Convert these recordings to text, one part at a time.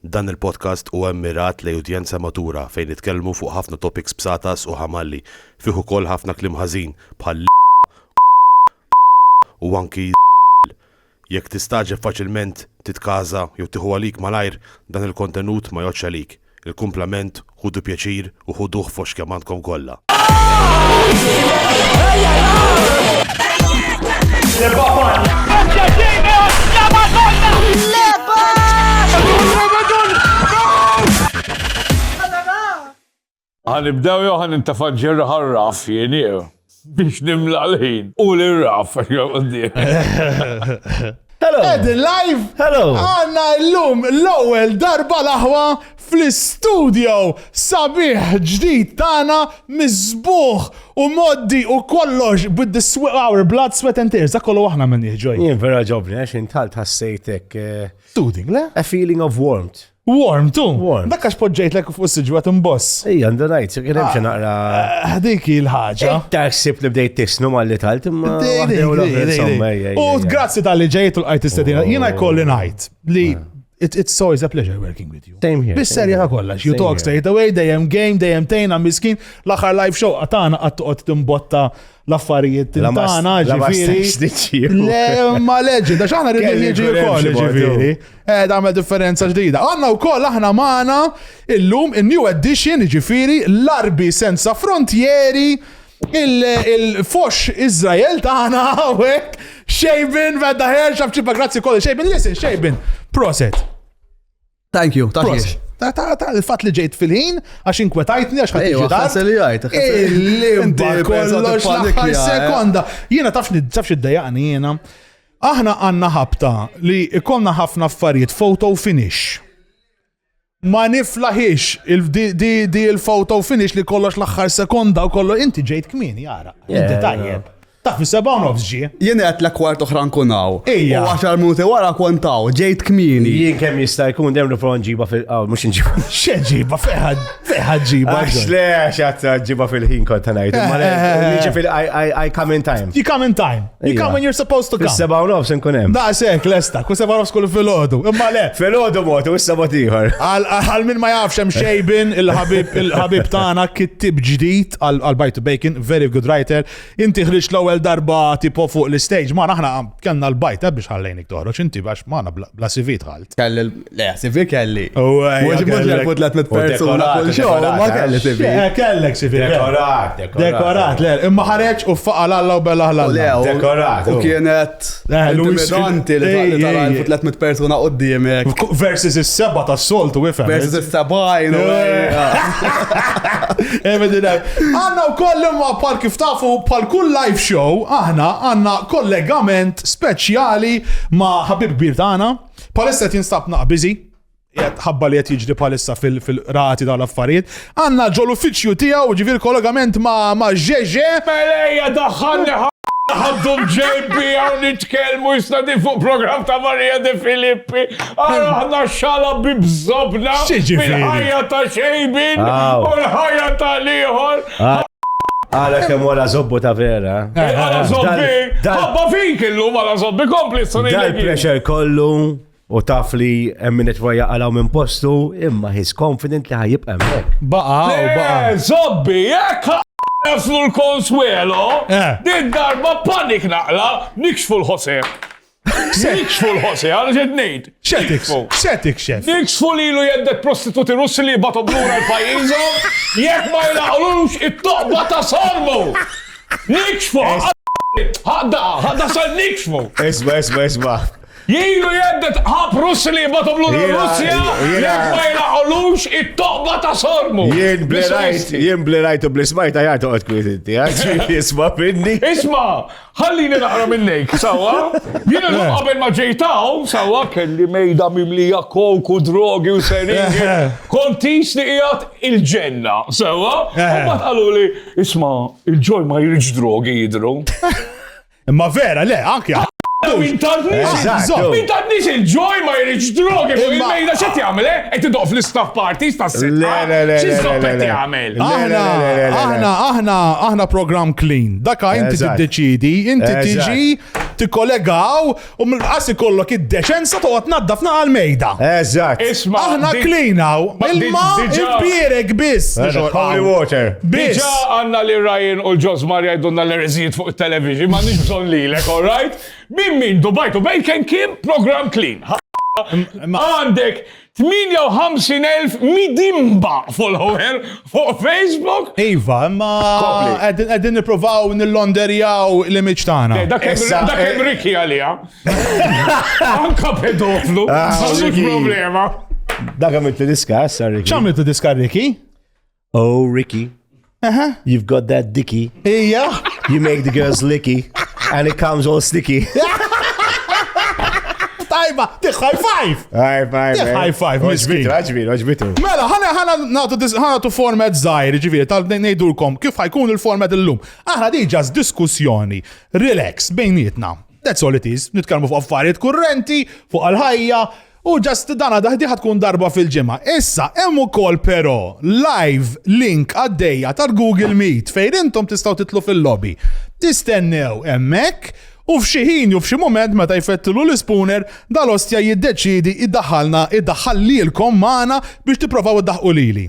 Dan il-podcast huwa mmirat lejn udjenza matura fejn nitkellmu fuq ħafna topics b'satas u ħamalli, fih ukoll ħafna kliem ħażin bħal l, u anki z, jekk tistagħġeb faċilment titkaża jew tieħu għalik malajr dan il-kontenut ma jgħoddx għalik, il-kumplament Ħudu pjaċir u ħuduh f'għoxx kemm għandkom kollha. Għanibdew jew ħanintafa' ġirħarraf jien biex nimla l-ħin u l-raf. Hello. Edin live. Hello. Għanna l-lum l-ewwel darba l-aħwa fl-istudio sabiħ ġdid tagħna miżbuħ u moddi u kollox with the sweat, our blood, sweat and tears. Dak kollu aħna minn jieġoj. Jien vera ġobni għax intalt ħassejtek. Eh, Soothing, le? A feeling of warmth. Warm, tu? Warm. Dak għax poġġejtlek fuq s-sġu għat imboss. Ej, għandu najt, kien hemm xi naqra. Ah, dik il-ħaġa. Ta' ħsib li bdejt tisnu mal li tal imma. U grazzi tal-li ġejt u l-qajt istedina. Oh. Jiena jkolli najt li ah. It's so is a pleasure working with you. Same here. Bis serja ta' kollax. You talk straight away, dejjem game, dejjem tejna miskin, l-aħħar live show għatana għattuqot timbotta l-affarijiet tagħna ġifieri. Le ma leġi, da x'aħna rridu jiġi wkoll ġifieri. Eh tagħmel differenza ġdida. Għandna wkoll aħna magħna illum in-new edition ġifieri l-arbi senza frontieri il-fox Izrael tagħna hawnhekk xejbin vedda ħerġa f'ċipa grazzi kollu xejbin listen xejbin proset. Thank you, thank you. Ta' ta' ta' il-fat li ġejt fil-ħin, għax inkwetajtni, għax ħat iġi dar. Għasel jgħajt, Il-limba kollox l-aħħar eh. sekonda. Jiena tafx tafx id-dajaqni jiena. Aħna għanna ħabta li ikonna ħafna affarijiet photo finish. Ma niflaħix di il-photo finish li kollox l-aħħar sekonda u kollox inti ġejt kmin jara. Inti tajjeb. Taf is-sebgħa u nofs ġie. Jien għedtlek kwart oħra nkun hawn. Ejja. U għaxar minuti wara kont hawn, ġejt kmieni. Jien kemm jista' jkun dejjem nipprova nġibha fil qawl mhux nġibha. X'e ġibha fejħa fejħa ġibha. Għax le għax għad ġibha fil-ħin kont ngħid. Imma le, jiġi fil- I- I I come in time. You come in time. You Ejja. come when you're supposed to come. Fis-sebgħa u nofs nkun hemm. Da sekk lesta, kull sebgħa nofs kull filgħodu. Imma le. Fil-ħodu mod u issa mod ieħor. Għal għal min ma jafx hemm xejbin il-ħabib il-ħabib tagħna kittib ġdid għal għal Bite to Bacon, very good writer, Inti ħriġt l-ewwel darba tipo fuq l-istage, ma aħna kellna l-bajt biex ħallejnik toħroġ inti għax ma bla CV dħalt. Kelli le CV kelli. Mhux mhux jekk tlet mit persuna kull xogħol ma kelli CV. Eh, kellek CV. Dekorat, dekorat. Dekorat, le, imma ħareġ u faqa l-alla u bella ħlalla. Dekorat. U kienet Eh, Intimidanti li taqli tal-għalfu 300 persuna qoddimek. Versus is-seba ta' soltu wifem. Versus is-sebajn. Emedina. Għanna u koll imma pal kif tafu pal kull live show aħna għanna kollegament speċjali ma' ħabib kbir tagħna. Palissa tinstab naqbiżi. ħabba li qed jiġri bħalissa fil-qrati dawn l-affarijiet, għandna ġol uffiċċju tiegħu ġifier kollegament ma' Ġeġe. Melejja daħħalni ħaddu l-JB hawn nitkellmu jista' din fuq programm ta' Marija De Filippi. Ara aħna xala bi bżobna fil-ħajja ta' xejbin u l-ħajja ta' l-ieħor. Għala kem wara zobbu ta' vera. Għala zobbi, għabba fik illum għala zobbi kompli s-sunni. Dal-pressure kollu. u taf li hemm min qed jaqalgħu minn postu, imma he's confident li ħajibqa' hemmhekk. Baqa' u baqa'. Eh, zobbi, jekk jaslu l-konswelo, eh. din darba panik naqla, nikxfu l-ħose. Nikxfu l-ħose, għal ġed ngħid. Xetiks, xetiks xef. Nikxfu li lu jeddet prostituti russi li jibatu blura l-pajjiżhom, jekk ma jlaqlux it-toqba ta' sormu. Nikxfu, ħadda, ħadda sa nikxfu. Isma, isma, isma. Ilu jheddet ħab Russi li jibgħathom lura r-Russja jekk ma jnaqqolux it-toqba ta' sormu. Jien bli rajt, jien bli rajt u bli smajt għajat toqgħod kwiet inti, għax jisma' minni. Isma', ħallini naqra minnejk, sewwa? Jien illum qabel ma ġejt hawn, sewwa, kelli mejda mimlija coke u drogi u seringi, kont qis li qiegħed il-ġenna, sewwa? U mbagħad qaluli, isma', il-ġol ma jridx drogi jidhru. Imma vera, le, anki Min tadnix il-ġoj ma jirriġ drogi fuq il-mejda xe tjamle? Eh? Et idoq fl-istaff parties ta' s-sitta. Xizzopp et jgħamil. Aħna, aħna, aħna, aħna program clean. Daka inti t-deċidi, inti tiġi, t-kollegaw, U mill-qas ikollok id-deċenza toqgħod tnaddafna għall-mejda. Eżatt. Isma'. Aħna clean hawn. Ilma impierek biss. Holy water. Diġà għandna li Ryan u l-Ġosmar jgħidulna l-ereżijiet fuq it-television, ma nix bżonn lilek, all right? Min min Dubai to Bacon kien program clean. Għandek 58,000 midimba follower fuq Facebook. Iva, imma qegħdin nippruvaw nillonderjaw l-image tagħna. Dak hemm Ricky għalija. Anka pedoflu, ah, problema. Dak għamilt diska, sa Ricky. X'għamilt diska Ricky? Oh, Ricky. Aha. You've got that dicky. Ija. You make the girls licky. And it comes all sticky. Tajba, tiħ high five! High five. Tiħ high five, miskin. Oġbitu, oġbitu. Mela, ħana ħana nagħtu dis- ħana tu format żgħir, ġifieri tal ngħidulkom kif ħajkun il-format illum. Aħna di ġas diskussjoni, relax bejnietna. That's all it is. Nitkellmu fuq affarijiet kurrenti, fuq għal-ħajja, U just dan għada ħdieħa tkun darba fil-ġimgħa. Issa, hemm ukoll però live link għaddejja tal-Google Meet fejn intom tistgħu titlu fil-lobby. Tistennew hemmhekk u f'xi ħin jew f'xi mument meta jfettilu l-ispuner dal-ostja jiddeċiedi jdaħħalna jdaħħal lilkom magħna biex tipprovaw iddaħħqu lili.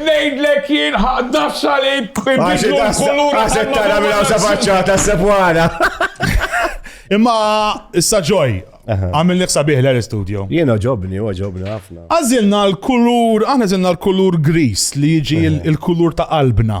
Ngħidlek jien ħa das-salib ibidlu l-kulur. Għaxet tara minn hawn sa faċċata s-sepwana. Imma issa ġoj, għamil nifsa biħla l-studio. Jena ġobni, u ġobni ħafna. Għazilna l-kulur, għana zilna l-kulur gris li jiġi il-kulur ta' qalbna.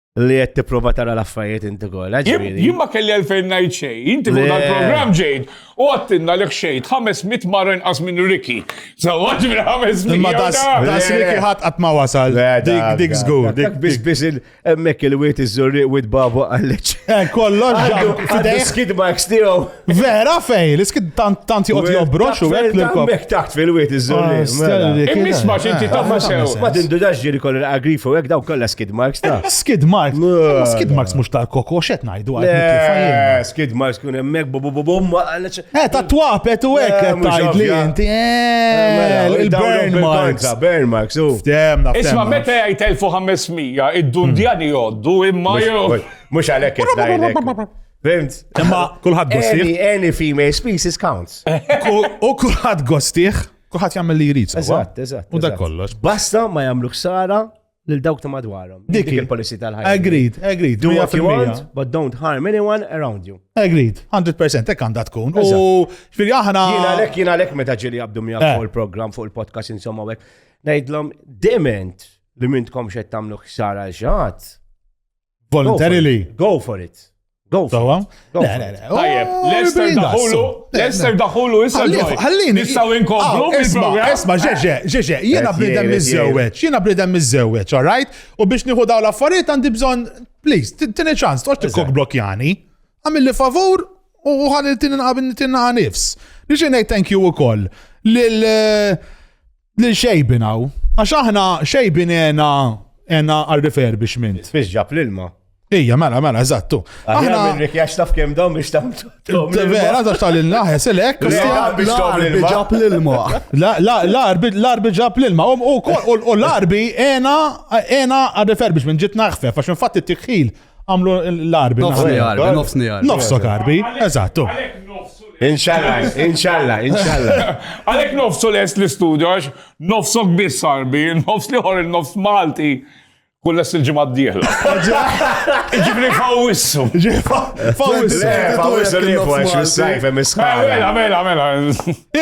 li qed tipprova tara l-affarijiet inti kollha. Jien ma kelli għalfejn ngħid xejn, inti minn dal-programm ġejt u għattinna li xejn 500 marra inqas minn Ricky. Sewwa ġifieri 500. Imma das Ricky ħadd qatt ma wasal. Dik dik żgur. Dik biss biss hemmhekk il-wiet iż-żurriq wiet babu għalleċ. Eh, kollox ġab. Għaddex skid marks tiegħu. Vera fej, l-iskid tant joqgħod jobrox u hekk l-kop. Mek taħt fil-wiet iż-żolli. Ah, mela. Immisma xinti eh, tamma sew. Ma tindudax ġiri kollu l-agrifu hekk daw kollha skid marks ta'. Eh, skid marks. Eh, skid marks mhux tal-koko x'qed ngħidu għal. Skid marks kun hemmhekk bu bu bu bum. Eh ta' twapet u hekk qed tgħidli inti. Mela, Il-burn marks. Burn marks u. Ftemna. Isma' meta jgħid 1500 id-dundjani jgħoddu imma jew. Mhux għalhekk qed ngħidlek. Fimt? Imma kulħadd gostiħ. Any, any female species counts. U kulħadd gostiħ, kulħadd jagħmel li jrid. Eżatt, eżatt. U dak kollox. Basta ma jagħmlu ħsara lil dawk ta' madwarhom. Dik il-policy tal-ħajja. Agreed, agreed. Do what you want, but don't harm anyone around you. Agreed, 100% hekk għandha tkun. U xfiri aħna. Jien għalhekk jien għalhekk meta ġieli jabdu miegħek eh. fuq il-programm fuq il-podcast insomma hekk. Ngħidlhom dement li mintkom xed tagħmlu ħsara ġat Voluntarily. Go for it. Go for it. Tajjeb, oh, Lester daħulu, Lester daħulu issa ġoj. Ħallini. Nistaw inkomplu ah, bil-programm. Isma, ġeġe, ġeġe, jena bnidem mizzewċ, jena bnidem mizzewċ, all right? U biex nieħu daw l-affarijiet għandi bżon, please, tini ċans, toċ t-kok blokjani, għamil li favur u ħalli t-tini naqabin t-tini nifs. Nixi nej thank you u koll. Lil eh, Lil xejbin hawn. Għax aħna xejbin għena għena għal refurbishment. Spiċ ġab l-ilma. Ija, mela, mela, eżattu. Aħna minn rikjax taf kem dawn biex tam. Vera, tax tal il-naħe, selek. L-arbi ġab l-ilma. L-arbi ġab l-ilma. U l-arbi ena għal refurbishment ġit naħfef, għax infatti t-tikħil Għamlu l-arbi. Nofsni arbi, nofsni arbi. Nofsok arbi, eżattu. Inxalla, inxalla, inxalla. Għalek nofsu les l-istudio, għax nofsok biss arbi, nofs li għor nofs Malti. Kull s il-ġimgħa d-dieħla. Ġibri fawissu. Fawissu. Fawissu li fuq għax fis-sajf hemm iskala. Mela, mela, mela.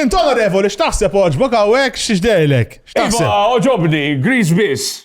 Int onorevoli x'taħseb oġbok hawnhekk x'dejlek? Iva, oġobni, Greece biss.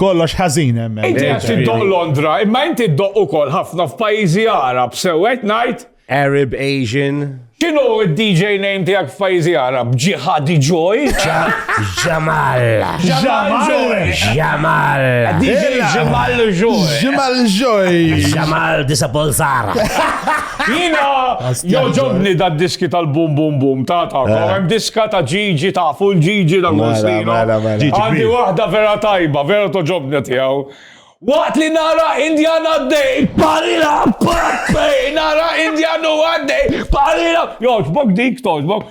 Kollox ħażin hemm. Inti qed tiddoq Londra, imma inti ddoq ukoll ħafna f'pajjiżi Arab sew qed ngħid. Arab, Asian. X'inhu d-DJ name tiegħek f'pajjiżi Arab? Ġihadi Joy? Ġamal. Ġamal. Ġamal. DJ Ġamal Joy. Ġamal Joy. Ġamal Disapolzara. Jina, joġobni da diski tal-bum bum bum ta' ta' għem eh. diska ta' ġiġi ta' full ġiġi da' għustino. Għandi wahda vera tajba, vera toġobni tijaw. Waqt li nara Indian għaddej, parila, parfej, nara Indian u għaddej, parila. Joġbok dik, toġbok.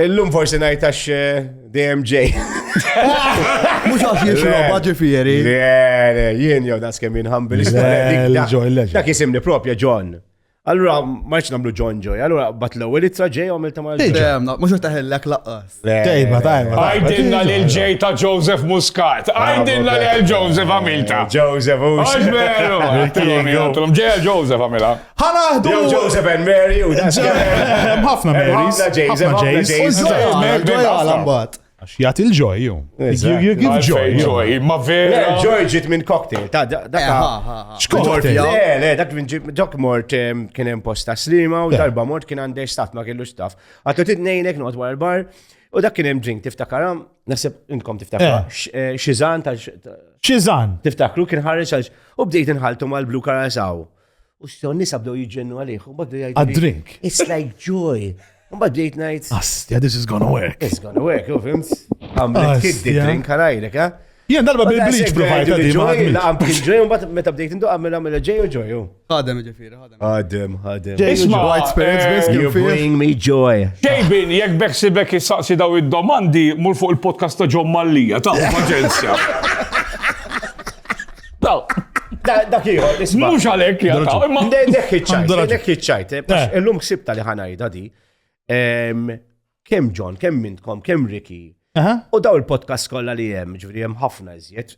Illum forsi ngħid għax eh, dejjem ġej. Mhux għax jixroba ġifieri. Le, jien jew das kemm jinħambil. Dak jisimni propja John. Allura, marċ namlu John Joy, allura bat l-ewwel ittra ġej għamil ta' mal Dejjem, mhux qed taħillek laqqas. Tejba, tajba. Għajdilna lil ġej ta' Joseph Muscat. Għajdilna lil Joseph għamilta. Joseph u. Għax veru. Ġej Joseph għamilha. Ħanaħdu. Jew Joseph and Mary u dan. Hemm ħafna Marys. Ħafna Jays, ħafna Jays. U ġoja, ġoja għal mbagħad. Għax jagħti l-ġoj ju. You give joy. Joy, ma vera. Joy ġiet minn cocktail. Ta' dak. Xkort. Le, le, dak minn ġok mort kien hemm posta slima u darba mort kien għandej staff ma kellux staff. Għatlu titnejnek noqgħod wara l-bar. U dak kien hemm drink tiftakaram, nasib inkom tiftakar. Xizan ta' Xizan. Tiftakru kien ħareġ għal u bdejt inħaltu mal-blu karasaw. U s-sew nisa bdew jġennu għalih, u badu jgħid. A drink. It's like joy. U bad bdejt najt. Astja, this is gonna work. It's gonna work, u fimt? Għamlet kiddi drink għalajrek, ha? Jien darba bil-bleach provajta di ma. Għam kien ġoj, un bat meta bdejt indu għamil għamil ġej u ġoj. Għadem ġifiri, għadem. Għadem, għadem. Isma, white spirits eh, best you bring me joy. Xejbin, jek beksi bekki saqsi daw id-domandi, mur fuq il-podcast ta' ġom mallija, ta' paċenzja. Dak ieħor, isma'. Mhux għalhekk jaqtaw. Imma dak iċċajt, dak iċċajt. Eh, eh. Illum ħsibta li ħanajda di. Kemm John, kemm mintkom, kemm Ricky. U daw il-podcast kollha li hemm, ġifieri hemm ħafna iżjed.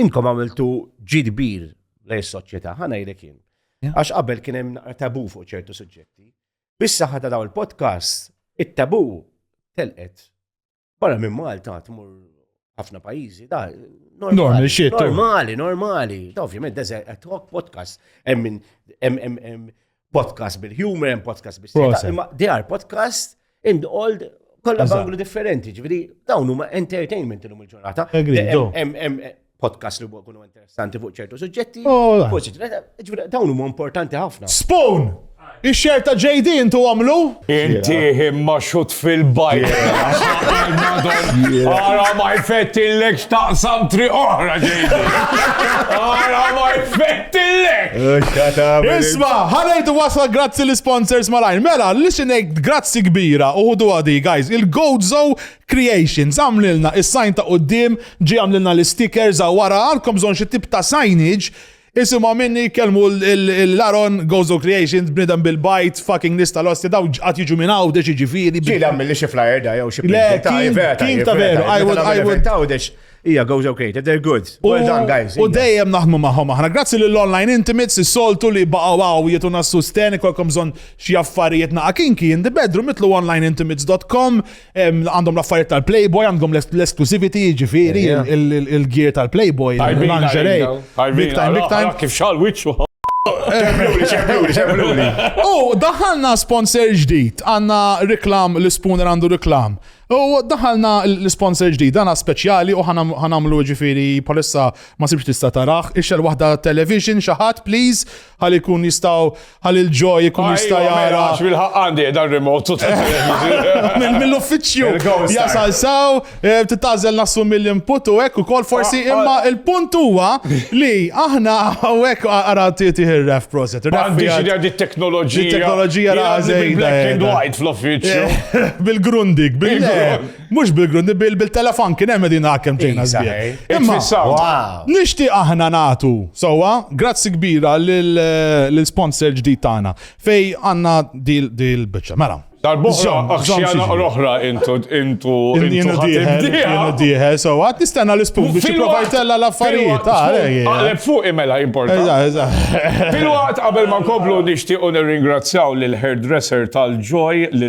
Inkom għamiltu ġid kbir lej soċjetà, ħanajlek jien. Għax qabel kien hemm tabu fuq ċertu suġġetti. Bissa ħadda daw il-podcast, it-tabu telqet Barra minn Malta tmur ħafna pajjiżi, da normali, shit, normali, normali. Da ovvjament da talk podcast, hemm hemm podcast bil-humor, hemm podcast bil imma they are podcast in the old kollha banglu differenti, ġifieri dawn huma entertainment illum il-ġurnata. podcast li huwa kunu interessanti fuq ċertu suġġetti. Oh, dawn huma importanti ħafna. Spoon! Ix-xer ta' JD intu għamlu? Inti imma xut fil-bajt. Ara ma jfettillek xtaqsam tri oħra JD. Ara ma jfettillek. Isma, ħanajtu wasla grazzi l-sponsors malajn. Mela, listen grazzi kbira. Uħdu għadi, guys. Il-Gozo Creations, Għamlilna is-sign ta' quddiem, ġie għamlilna l-istikers hawn wara, għandkom bżonn xi tip ta' signage, isimgħu minni jkellmu lil Aaron Gozo Creations, bniedem bil-bajt, fucking nies tal-Ostia, dawn qatt jiġu minn Għawdex jiġifieri. Ġieli għammilli xi flyer da jew xi Le, printi ta' king, vera king tajjeb, ta' vera veru, tajjeb. I Meta would, nagħmel I would. event ta' Għawdex, Hija Gozo Creative, they're good. Well done guys. U hija. dejjem naħdmu magħhom aħna. Grazzi lill Online Intimates is-soltu li baqgħu hawn jituna s-susten ikolkom bżonn xi affarijiet naqa' kinki in the bedroom itlu onlineintimates.com Għandhom l-affarijiet tal-Playboy, għandhom l-exclusivity, ġifiri, il-gear tal-Playboy, l-lingerie. Big time, big time. Kif xal wicċu. U daħalna sponsor ġdid, għanna reklam l-spooner għandu reklam. U daħalna l-sponsor ġdid, għanna speċjali u ħanamlu ġifiri palissa ma sibx tista tarax, ixel wahda television xaħat, please, għal ikun jistaw Halil Joy ikun jista' Ajwa, mela, jara. għax bil-ħaq għandi qiegħda r-remote u ta' Minn mill-uffiċċju Il-ghost jasal saw, eh, titażel nassumi l-input u hekk ukoll forsi Ah, ah. imma il-punt huwa li aħna hawnhekk ara tieti ir-ref proset. Ma għandix idea di teknoloġija. Di teknoloġija Jien għandi rażejda bil-black and jeda. white fl-uffiċċju. Bil-grundig, bil Bil-grund. Mhux bil-grund, bil-telefon kien hemm din għakem ġejna żbieħ. Imma nixtieq aħna nagħtu sewwa grazzi kbira lill-sponsor ġdid tagħna fej għandna dil-biċċa. Mela. Dal-boħra, xjana l-oħra intu intu intu diħe, so għat nistenna l-ispun biex provajtella l-affarijiet. Għalek fuq imela importanti. Fil-waqt qabel ma nkomplu nixtiequ nirringrazzjaw l-hairdresser tal-ġoj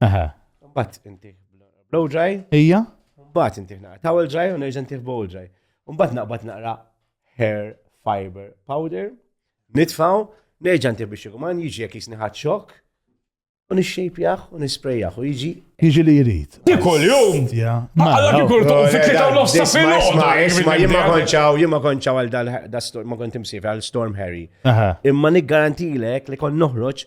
Aha. Bat inti blow dry. Ija? Bat inti naqra towel dry u nerġa' inti bowl dry. Umbat naqbad naqra hair fiber powder. Nitfaw, nerġa' inti biex ikuman jiġi jekk jisni ħadd xokk. U nixxejpjaħ u nisprejjaħ u jiġi. Jiġi li jrid. Tikol jum! Għalla kikul tuq fit tlieta u nofsa fil Isma jien ma konċaw, jien ma konċaw għal dal-storm, ma kont imsif għal Storm Harry. Imma niggarantilek li kon noħroġ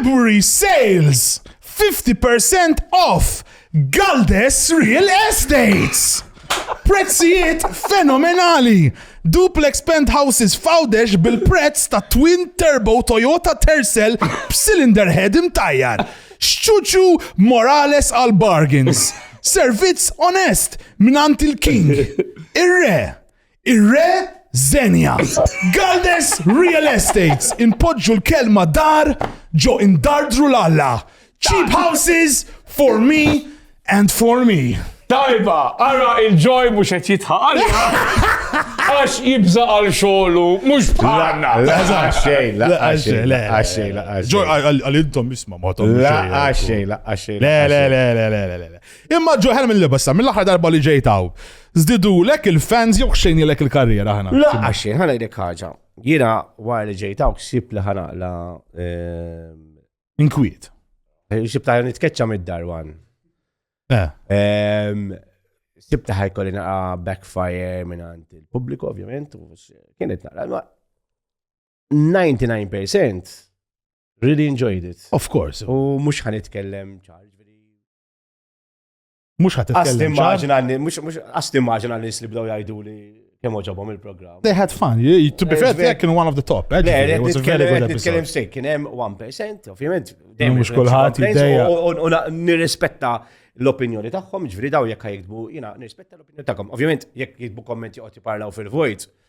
February sales, 50 percent off Galdes Real Estates! Prezzijiet fenomenali! Duplex penthouses f'Għawdex bil-prezz ta' twin turbo Toyota Tercel b'cylinder head imtajjar. Xċuċu Morales għal bargains. Servizz onest mingħand il-King. Ir-Re. Ir-Re Xenia. Galdes Real Estates inpoġġu l-kelma dar ġo indardru l-alla. Cheap houses for me and for me. Tajba, ara il-ġoj mux qed jitħaq għalina. Għax jibza għal xogħlu mhux bħalna. La xejn, la xejn, la xejn, la xejn. Ġoj għal intom isma' ma tom. La xejn, la xejn. Le, le, le, le, le, le. Imma Joe Helm il-libessa, mill-aħħar darba li ġejt hawn. Zdidulek il-fans jew xejnilek il-karriera ħana. La, għaxin, ħana jdek ħaġa. Jina wara li ġejt hawn ksib li ħana la. Eh, Inkwiet. Eh, Xibta nitkeċċa mid-dar wan. Eh. Ehm, Sibta ħajkolli naqa backfire minn għand il-pubbliku, ovvjament, kienet naqra. 99% really enjoyed it. Of course. U mux ħanitkellem ċarġ Mux ħat t-tkellem. Għas timmaġina li nisli bdaw jajdu li kem oġobom il-program. They had fun. To be fair, they kienu one of the top. Eh, it was a very good episode. Nitkellem sejk, kienem 1%, ovvijament. Mux kullħat jiddeja. U nirrispetta l-opinjoni tagħhom, ġviri daw jekk jiktbu, jina nirrispetta l-opinjoni tagħhom. Ovvijament, jekk jiktbu kommenti għoti parlaw fil-vojt,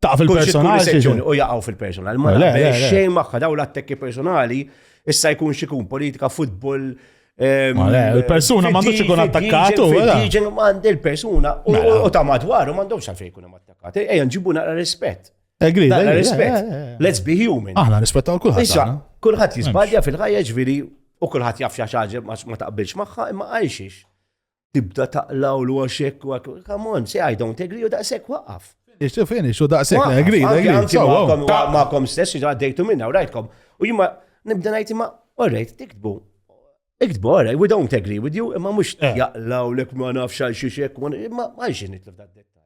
taf il-personali. U jaqaw fil-personali. Ma xejn maħħa daw l-attekki personali, issa jkun xikun politika, futbol. Ehm, il-persuna ma għandux ikun attakkat u Diġen għand il-persuna u mela. ta' madwar u għandhom xafej ikun attakkat. Ejja nġibu naqra rispett. Egri, naqra rispett. Let's be human. Aħna rispettaw kulħadd. Issa, kulħadd jisbadja fil-ħajja ġviri u kulħadd jaf xaġa ma taqbilx magħha imma għajxiex. tibda taqlaw l għaxek u għak, come on, say I don't agree u daqsek waqaf. Ixtu fini, ixtu daqsek, I agree, I agree. Ma'kom stess, ġa għaddejtu minna, u rajtkom. U jimma, nibda najti ma, orrejt, tiktbu. Iktbu, orrejt, we don't agree with you, imma mux eh. jaqlaw l ma nafx għal xiexek, imma għalxin nitlif da' dettal.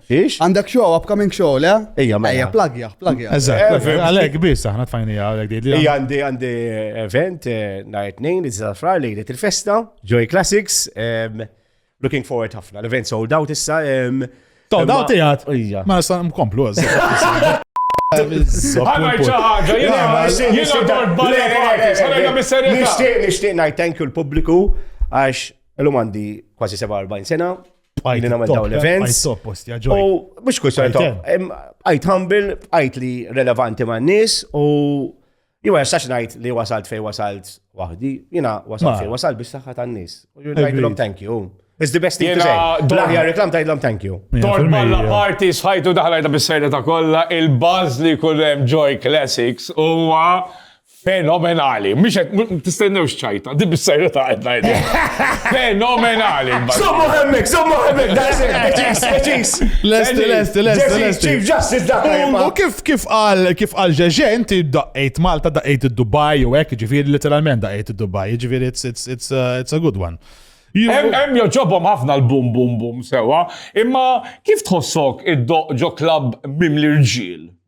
Ix? Għandek show, upcoming show, le? Ija, ma. Ija, plagja, plagja. Eżatt, għalek bis, aħna tfajni għalek di. Ija, għandi għandi event, eh, najt nejn, li t-zafra, li li t-festa, Joy Classics, looking forward ħafna, l-event sold out issa. Sold out tijat? Ija. Ma nista' mkomplu għazza. Nishtiq, nishtiq, najt thank you l-publiku, għax l-umandi kważi 47 sena, bqajt li namel dawn l-events. U mux kux għajt għajt humble, għajt li relevanti ma' nis u jima jastax najt li wasalt fej wasalt wahdi, jina wasalt fej wasalt biex saħħa tan nis. U jina thank you. It's the best thing to say. Blaħja reklam tajdlom thank you. Tor balla party sħajtu daħlajta bis-serja ta' kolla, il-buzz li kullem Joy Classics huwa Fenomenali. Mhix qed tistennewx ċajta, di bis-serjetà qed ngħidha. Fenomenali. Sommu hemmek, sommu hemmek, daqsek, eċis, eċis. Lest, lest, lest, lest. Chief Justice dak. U kif kif qal kif qal ġeġe inti daqqejt Malta, daqqejt id-Dubai u hekk, ġifieri literalment daqqejt id-Dubai, ġifieri it's it's it's uh, it's a good one. Hemm joġobhom ħafna l-bum bum bum sewa, imma kif tħossok id-doq ġo klabb mim l-irġiel?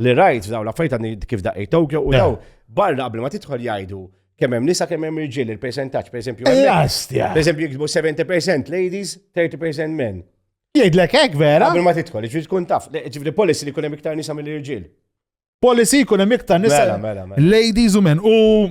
li rajt daw l-affarijiet għandi kif daqqiet Tokyo u daw barra qabel ma tidħol jgħidu kemm hemm nisa kemm hemm irġiel il-persentaġġ pereżempju. Jastja. Pereżempju jiktbu 70% ladies, 30% men. Jgħidlek hekk vera? Qabel ma tidħol, ġifieri tkun taf, ġifieri policy li jkun hemm iktar nisa mill-irġiel. Policy jkun hemm iktar nisa. Mela, mela, mela. Ladies u men. U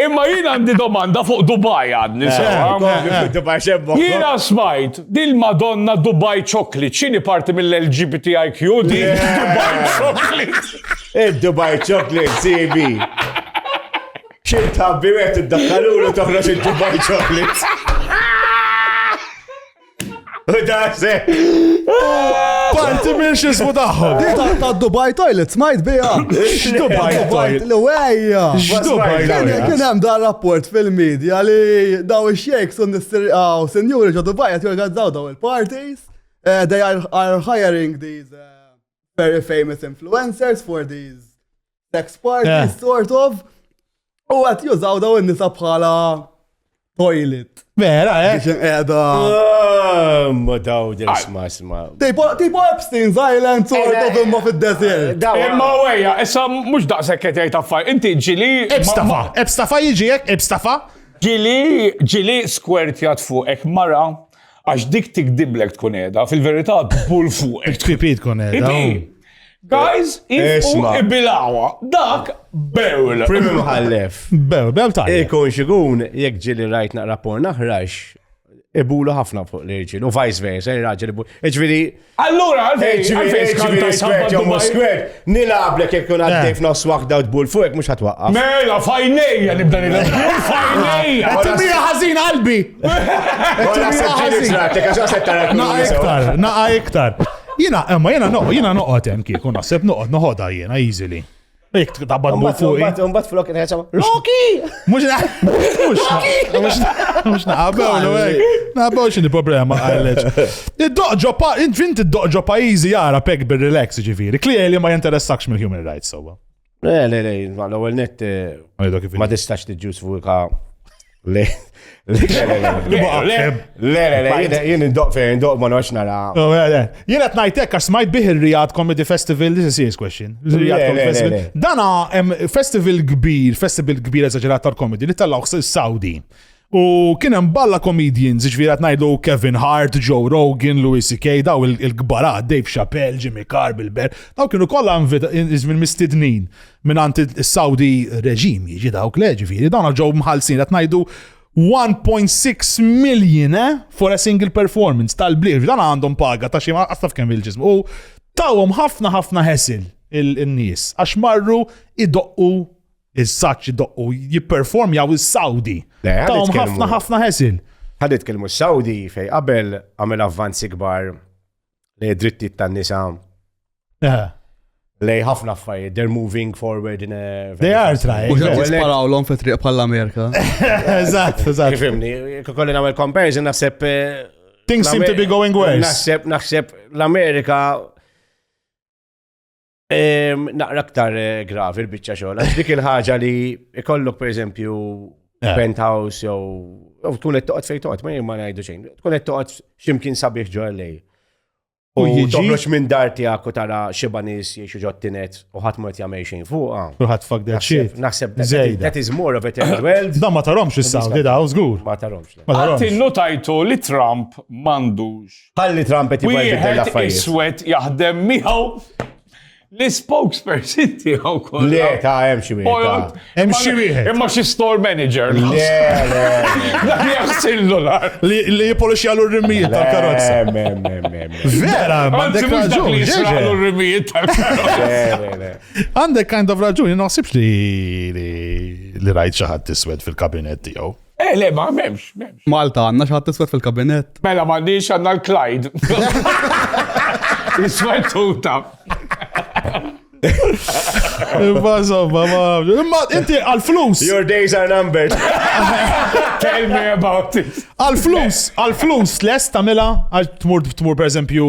Imma jien għandi domanda fuq Dubai għadni sewa. Jiena smajt dil Madonna Dubai Chocolate, x'inhi parti mill-LGBTIQ di Dubai Chocolate. Id-Dubai Chocolate CB. Xil tabbi għet id-dakkalulu toħroġ id-Dubai Chocolate. Daħse! Parti minn xismu taħħom. Dita ta' Dubai Toilet, smajt bija. Dubai Toilet. L-wejja. Dubai Toilet. Kien hemm da' rapport fil-medja li daw ix-xejks u nistirqaw senjuri ġo Dubai qed jorganizzaw daw il-parties. Eh, they are hiring these eh, very famous influencers for these sex parties, yeah. sort of. U għat jużaw daw n-nisa bħala toilet. Vera, eh? Biex edha. Ah, ma daw din sma sma. Tipo Epstein's Island sort eh, of imma fil-desert. Eh, imma għeja, issa mux daqsek ketej taffaj, inti ġili. Ebstafa, ebstafa jġiek, ebstafa. Ġili, ġili square tjat fuq, ek mara, Għax dik tikdiblek tkun qiegħda, fil-verità tbul fuq. Tkipit tkun qiegħda. Guys, isma' ibilawha. Dak bewl. Primi mħallef. Bewl, bewl ta' Ikun xigun, jekk ġili rajt naqra porn aħrax, ibulu ħafna fuq l-irġil, u vice versa, il-raġel ibulu. Iġviri, Allura, għalfejn, għalfejn skanta skwert jew mhux skwert, nilgħablek jekk kun għaddej f'nofs waħda u tbul fuq mhux ħatwaqqaf. Mela, fajnejja nibda nilgħab. Fajnejja! Qed timija ħażin qalbi. Qed timija ħażin. Għax għax tara Naqa iktar, naqa iktar. Jiena, imma jiena noqgħod, jiena noqgħod hemm kieku naħseb noqgħod noħodha jiena easily. Dik tabad mur fuq. Mbagħad flok ngħidha Rocky! Mhux mhux mhux naqabew no hekk. Naqabew x'inhi problema għaliex. Id-doq ġo pa int id-doq ġo pajjiżi jara pek bir-relax ġifieri. Klieli ma jinteressakx mill-human rights sewwa. Le, le, le, l-ewwel net eh, ma tistax tiġġustifika Le, le, le, jien indoq fejn, indoq ma nox nara. Oh, jien qed ngħidlek għax smajt bih ir-Rijad Comedy Festival, this is serious question. Rijad Comedy Festival. Dana festival kbir, festival kbir eżaġerat tal-komedi li tellgħu s-Saudi. U kien hemm balla comedians, ġifieri qed ngħidu Kevin Hart, Joe Rogan, Louis C.K., daw il-kbarat, Dave Chappelle, Jimmy Carr, Bill Bear, daw kienu kollha iżmin mistednin. Invi mingħand is-Saudi reġim jiġi dawk le ġifieri dawn ġew mħallsin qed ngħidu 1.6 million eh, for a single performance tal-blier. Dan għandhom paga ta' xi għastaf kemm il-ġism. U tawhom ħafna ħafna ħesil il-nies għax marru idoqqu il-saċ idoqqu jipperformjaw is-Saudi. Tawhom ħafna ħafna ħesil. Ħadet kelmu s-Saudi fej qabel għamel avvanzi kbar lej drittijiet tan-nisa. Eh. Lej ħafna affarijiet, they're moving forward in a... They are trying. U ġat jisparaw l-om fi triq bħall-Amerika. Eżatt, eżatt. Fimni, kolli namel comparison, naħseb... Eh, Things seem to be going worse. Naħseb, naħseb l-Amerika Naqra aktar eh, gravi l-bicċa xogħol, għax dik il-ħaġa li ikollok per eżempju eh. penthouse jew jew tkun qed toqgħod fejn toqgħod, ma jien ma ngħidu xejn. Tkun qed toqgħod x'imkien sabiħ ġo LA. U toħroġ minn dar tiegħek u tara xi banis jiexu ġo tinet u ħadd ma qed jagħmel xejn fuqha. U ħadd fuck that shit. Naħseb that is more of a third world. Da ma taromx is-sound, da żgur. Ma taromx. Ma taromx. Għattillu tajtu li Trump m'għandux Ħalli Trump qed jibgħid jibdel l-affarijiet. Iswed jaħdem miegħu l-spokesperson tiegħu kollha. Le, ta' hemm xi wieħed. Hemm xi wieħed. Imma xi store manager. Le, le. Dak li jaħsillu nar. Li jipolixi għal r-rimijiet tal-karozza. Vera, għandek raġun. Għal r-rimijiet tal-karozza. Għandek kind of raġun, naħsibx li li rajt xi ħadd iswed fil-kabinet tiegħu. Eh, le, ma memx, memx. Malta għanna xaħat t-iswet fil-kabinet. Mela, ma għandix għanna l-Clyde. Iswet tuta. Imma zomba, ma. Imma inti għal-flus. Your days are numbered. Tell me about it. Għal-flus, għal-flus, les tamela, għal tmur, tmur per eżempju,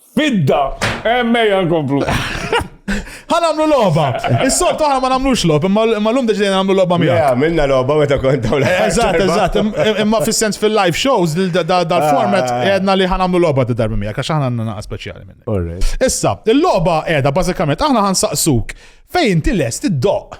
Fidda! Emmejja nkomplu. Ħa nagħmlu logħba. Is-soltu aħna ma nagħmlux logħba, imma llum deġdejna nagħmlu logħba miegħek. Ja, minna logħba meta kont dawn. Eżatt, eżatt. Imma fis-sens fil-live shows dal-format ah. għedna li ħa nagħmlu logħba ta' darba miegħek għax aħna għandna naqa' speċjali minni. Issa, il-logħba qiegħda bażikament aħna ħansaqsuk fejn tilest id-doq.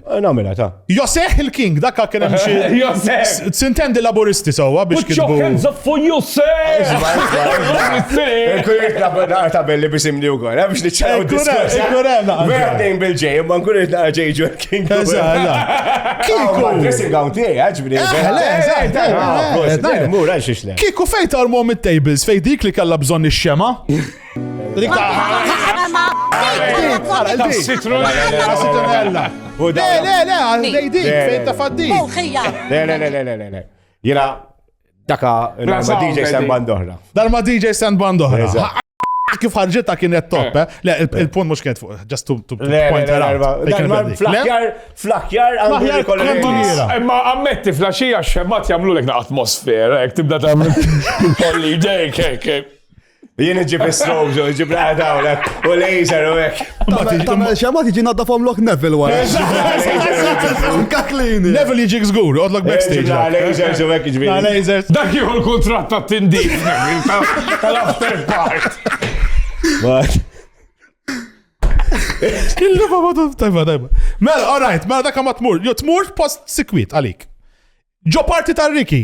Namela ta. Joseh il-King, dakka kien hemm xi. Joseh! Sintendi laburisti sewwa biex kienu. Put your hands up for Joseh! Kurit naqra ta' belli biex imni wkoll, hemm biex niċċaraw diskuss. Ikun hemm naqra. Vera tejn bil-ġej, imma nkun irid naqra ġej ġur King. Kiku. Dressing gown tiegħi, ġbri. Kiku fejn tarmhom it-tables fejn dik li kellha bżonn ix-xema. Le, le, le, għandej dik, fejn ta' faddik. Le, le, le, le, le, le. Jena, daka, ma DJ Stan Bandohra. Dar ma DJ Stan Bandohra. Kif ħarġita kienet top, eh. eh? Le, il-punt mux kienet fuq, just to point her out. Flakjar, flakjar, flakjar, kolliniera. Imma ammetti flaxija xemmat jamlu l-ek atmosfera, ek tibda ta' kolli ġej, kek, kek. Jien iġib il-strobżu, iġib l-għada u l-ek, u l-laser u l-ek. Tamel xema tiġi nadda fom lok Neville wara. Kaklini. Neville jiġi gżgur, għodlok backstage. La lasers u l-ek iġbi. La lasers. Dak jieħu l-kontrat ta' tindi. Tal-after part. Illu ma madu, tajba, tajba. Mela, all right, mela dak ma tmur. Jo tmur post sikwit għalik. Ġo parti tal-Riki.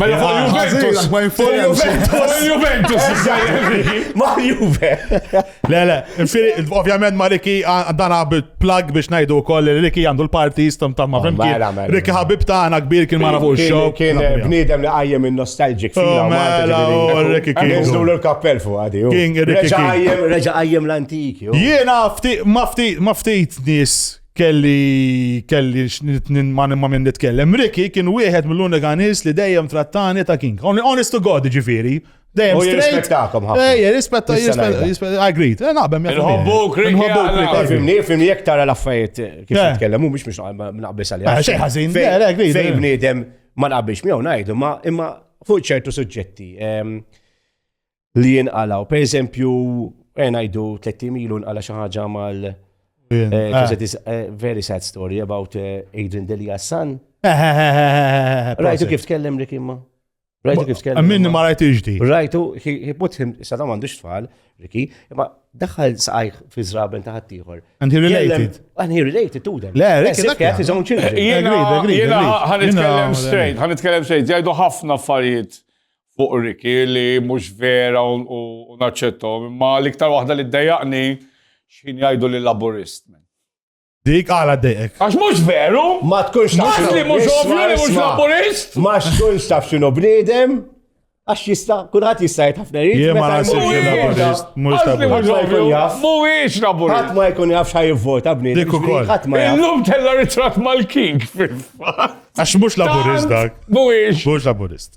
Mela fuq Juventus. Ma jinfurem. Juventus. Ma Juve. Le, le. Ovvjament ma Riki għandana plug biex najdu koll li Riki għandu l-parti jistam ta' ma fimki. Mela, mela. Riki ħabib ta' għana kbir kien mara fuq il-show. Kien bnidem li għajjem il-nostalġik. Oh, mela, oh, Riki kien. Nizdu l-kappell fuq għadi. Oh. King, Riki. Reġa għajjem l-antiki. Jiena ma ftit, ma ftit nis kelli kelli ma minn nitkellem. Ricky kien wieħed mill-unika nies li dejjem trattani ta' king. Honest to God, ġifiri. Dejjem straight. Ejja, rispetta, rispetta, agreed. Eh, naqbem jgħu. Nħobbu, krikki. Fimni, fimni, jek tara l-affarijiet eh, kif eh. nitkellem, u mux mux naqbis għalja. Xej ħazin, agreed. Fej bniedem ma naqbix miegħu ngħidu, ma imma fuq ċertu suġġetti. Ehm, li jinqalaw. Per eżempju, eh, ngħidu 30 ilu nqala xi ħaġa mal eh, is a eh, very sad story about eh, Adrian Delia son. Rajtu kif tkellem Rick imma? Rajtu kif tkellem? Minni ma rajtu iġdi. Rajtu, he put him, sadam għandux tfal, Ricky, imma daħħal saqajh fi zraben ta' ħaddieħor. And he related. And he related to them. Le, Ricky, dak jgħat his own children. Jena, jena, ħanitkellem straight, ħanitkellem straight, jgħidu ħafna affarijiet fuq Riki li mhux vera u naċċettom, imma l-iktar waħda li ddejjaqni x'ħin jgħidu li laburist. Dik għala dejek. Għax mhux veru? Ma tkunx taf. Għax li mhux ovvju li mhux laburist? Ma tkunx taf x'inhu bniedem? Għax jista, kulħadd jista' jgħid ħafna jrid. Jien ma nasibx li laburist, mhux laburist. Mhuwiex laburist. Ħadd ma jkun jaf x'ħaj jivvota bniedem. Dik ukoll. Ħadd ma jaf. Illum tella ritratt mal-king fil-fatt. Għax mhux laburist dak. Mhuwiex. Mhux laburist.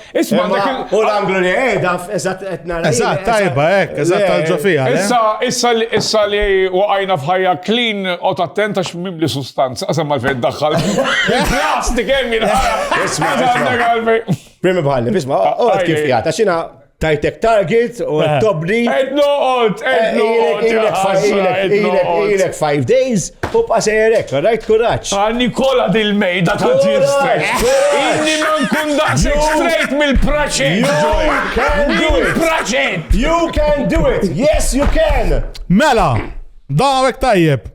Isma' dak il- U l-anglu li qiegħda eżatt qed nara. Eżatt, tajba hekk, eżatt tal-ġo fiha. le? Issa, issa, li- issa li waqajna f'ħajja clean, qgħod attent għax mimli sustanza, qasam għalfejn iddaħħal. Il-plastik hemm jinħara. Isma', Għax għandek isma'. għalfejn. Primi bħalli, isma, għod kif jgħat, għax jina tajtek target u tobni. Ed noqgħod, ed noqgħod. ja ħasra, ed noqgħod. Ilek five days, Tibqa' sejjer hekk, rajt kuraġġ. Għal Nikola dil-mejda ta' ġir straight. Inni ma nkun daqshekk straight mill-praċet. You can do it. Praċet. You can do it. Yes, you can. Mela, dawek tajjeb.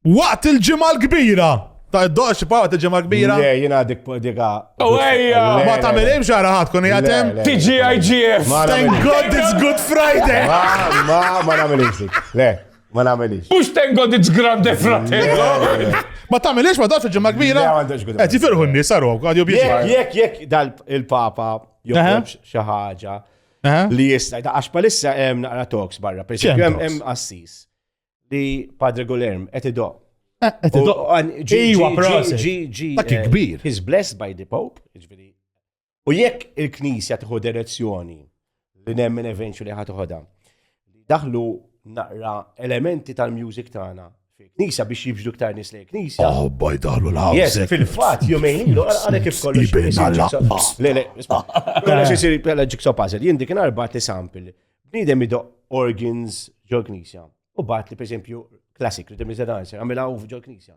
Waqt il-ġimgħa l-kbira. Ta' id-doq xi waqt il-ġimgħa l-kbira. Le, jiena dik dika. U oh, ejja. Ma tagħmel hemm xara ħadd kun jagħtem. TGIGF. Thank God it's Good Friday. Ma ma ma nagħmel Le. Ma nagħmelix. Mhux tengo di grande fratello. Ma tagħmelix ma dax ġimgħa kbira. Qed jifirħu n-nies saru għad jobjeġu. Jekk jekk dal il-Papa joħroġ xi ħaġa li jista' għax palissa hemm naqra talks barra, per hemm assis li Padre Gulerm qed idoq. Eh, qed idoq. Ġi ġi ġi ġi. Dak eh, kbir. He's blessed by the Pope, ġifieri U jekk il-Knisja tieħu direzzjoni li nemmen eventu li ħatuħoda, li daħlu naqra elementi tal-music tagħna fil-Knisja biex jibġdu ktar nies lejn Knisja. Oh, baj daħlu l Yes, fil-fatt jumejn ilu għalek kif kollu. Le, le, isma. Kolla xi sir bħala jigsaw puzzle. Jien dik inhar bat li sample. Bniedem ido organs ġol-Knisja. U bat li pereżempju classic rhythm is a dancer, għamilha ġol-Knisja.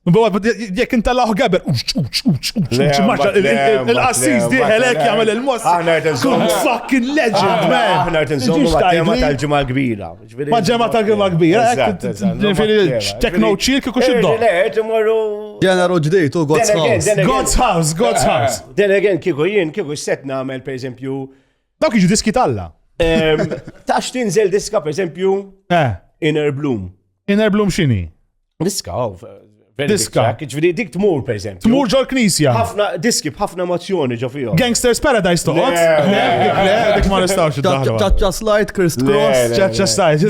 Jek inta laħu għaber, uċ, uċ, uċ, uċ, uċ, maċa, il-qassis diħelek jgħamil il-mos. Kun fucking legend, man. Aħna għet nżommu ma' tal-ġimma kbira. Ma' ġemma tal-ġimma kbira. Tekno ċil kiku xiddo. Ġeneru ġdijt u God's House. God's House, God's eh, House. Den again, kiku jien, kiku set namel, per eżempju. Dawk iġu diski talla. Tax tinżel diska, per eżempju, eh. Inner Bloom. Inner Bloom xini? Diska, oh, Diska. Ġviri, dik tmur, per eżempju. Tmur ġol knisja. Ħafna diski, ħafna emozjoni ġo fihom. Gangsters Paradise toqgħod. Le, dik ma nistgħux id-daħlu. Ċaċċa slide, Chris Cross. Ċaċċa slide.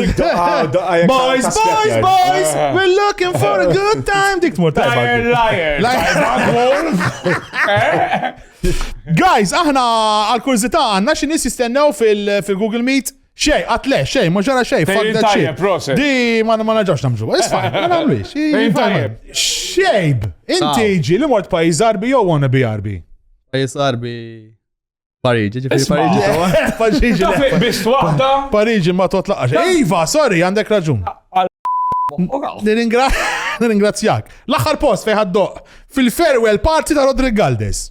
Boys, boys, boys, eh. we're looking for a good time. Dik tmur tajba. Liar, liar. Eh? Guys, aħna għal-kurzita għanna xi nies jistennew fil-Google Meet. Xej, għat le, xej, ma ġara xej, fuck that shit. Di, ma ma naġax namġu. Isfa, ma namlix. Xejb, inti ah. ġi li mort pajiz arbi jow għana bi arbi. Pajiz arbi. Pariġi, ġifiri Pariġi. Pariġi. Bist wahda. Pariġi ma totlaqax. Iva, sorry, għandek raġun. Nirringrazzjak. L-axar post fejħaddoq fil-farewell party ta' Rodrigaldes.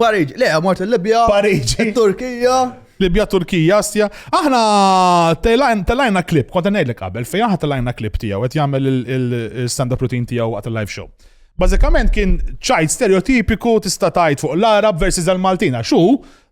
Pariġi, le, mort il-Libja. Pariġi. Il-Turkija. Libja, Turkija, Asja. Aħna telajna klip, konta ngħidlek qabel, fejn aħna telajna klip tiegħu qed jagħmel il-stand-up routine tiegħu għat il-live show. Bażikament kien ċajt stereotipiku tista' tgħid fuq l-Arab versus il-Maltin għax hu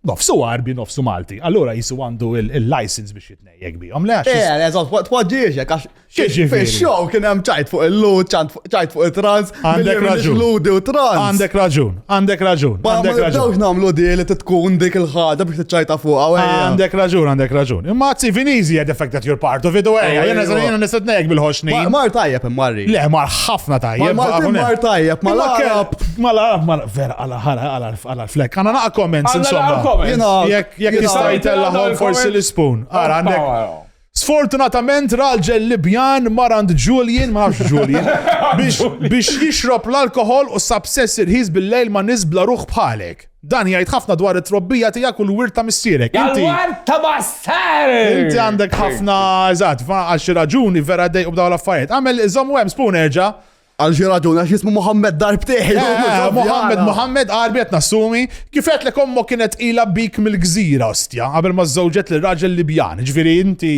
nofsu Arbi, nofsu Malti. Allura jisu għandu il-license biex jitnejjek bihom. Le, għax. Eh, eżatt, twaġġiex, għax Fix-show kien hemm ċajt fuq il-lut, ċajt fuq il-trans, għandek raġun. Ludi u trans. Għandek raġun, għandek raġun. Ma nibdewx nagħmlu di li tkun dik il-ħaġa biex tiċċajta fuq Għandek raġun, għandek raġun. Imma għazzi Vinizi had affected your part of it, u għajja, jena zanina nisad nejk bil-ħoxni. Mar tajjeb immarri. Le, mar ħafna tajjeb. Mar tajjeb, mar tajjeb. Mar tajjeb, mar vera għala ħala għala għala flek. Għana naqa comments insomma. Jek jistajt l-ħom forsi l-spoon. Għara għandek. Sfortunatament raġel Libjan mar għand Julian, ma nafx Julian, biex, biex jixrob l-alkoħol u sab sess irħis bil-lejl ma' nies bla ruħ bħalek. Dan jgħid ħafna dwar it-trobbija tiegħek u l-wirt ta' missierek. Inti Għal-war ta' bastard! Inti għandek ħafna eżatt, fa għal xi raġuni vera dejqu b'dawn l-affarijiet. Għamel iżommu hemm spoon erġa'. Għal xi raġun għax jismu Mohammed darbtejn. Eh, Mohammed, Mohammed, għarbi qed nassumi, kifet li kommo kienet ila bik mill-gżira ostja, qabel ma żewġet li raġel Libjan, ġifieri inti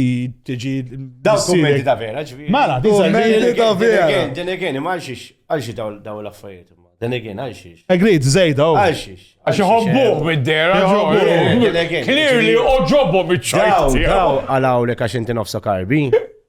tiġi. Daw kummenti ta' vera, ġifieri. Mala, kummenti ta' vera. Din again, ma għalxiex, għalxiex daw l-affarijiet. Din again, għalxiex. Agreed, zejda. Oh. Għalxiex. Għax iħobbuh mid-dera, Clearly, oġobhom iċ-ċajt. Daw, daw, għalawlek għax inti nofsa karbi.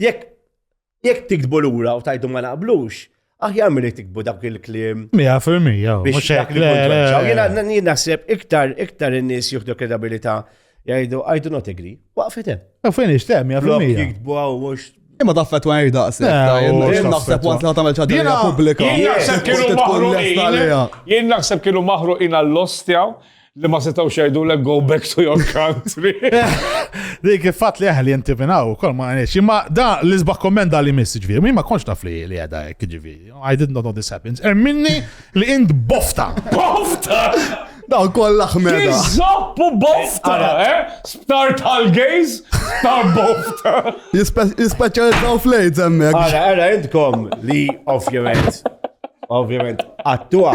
Jekk jekk tiktbu lura u tajdu ma naqblux, aħjar milli tiktbu dak il-klim. Mija fil-mija, mhux hekk. Jien naħseb iktar iktar in-nies jieħdu kredabilità jgħidu I do not agree. Waqfet hemm. U fejn ixtem, ja fil-mija. Jiktbu għaw mhux Imma daffa tu għajr daqsi. Jien naħseb għant li għatamel ċadina publika. Jien naħseb kienu maħruqin. Jien naħseb kienu maħruqin għall-ostjaw. Li ma setgħux jgħidulek go back to your country. Dik il-fatt li aħli inti minn hawn ukoll ma għaliex. Imma da l-isbaħ komment da li miss ġifieri, min ma konx taf li li għedha hekk ġifieri. I did not know this happens. Er minni li int bofta. Bofta! Daw kollha ħmeda. Zoppu bofta, eh? Sptar tal-gays, sptar bofta. Jispeċjalizzaw flejt hemmhekk. Ara, ara, intkom li ovvjament, ovvjament, għattuha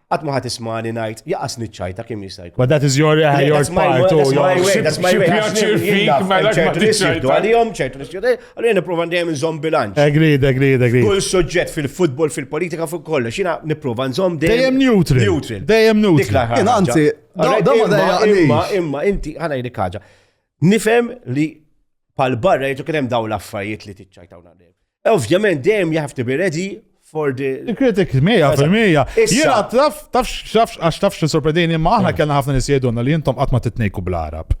Qatt ma ħadd ismani ngħid jaqasni ċ-ċajta kemm jista' jkun. But that is your, uh, your part, u pjaċir fik, ma l ċertu li xibdu għalihom, ċertu li xibdu, għalli niprofa dejjem nżomm bilanċ. Agreed, agreed, agreed. Kull suġġett fil-futbol, fil-politika, fuq kollox, jina niprofa nżomm dejjem. neutral. Neutral. Dejjem neutral. Jina, anzi, imma, imma, inti, ħana jdik ħaġa. Nifem li pal-barra jgħidu kien hemm dawn l-affarijiet li tiċċajtawna dejjem. Ovvjament dejjem you have to be ready for the. Il-kritik 100%. Jena taf, taf, taf, għax taf xi sorpredini, ma aħna kellna ħafna nisjedunna li jintom qatt ma titnejku bl-Arab.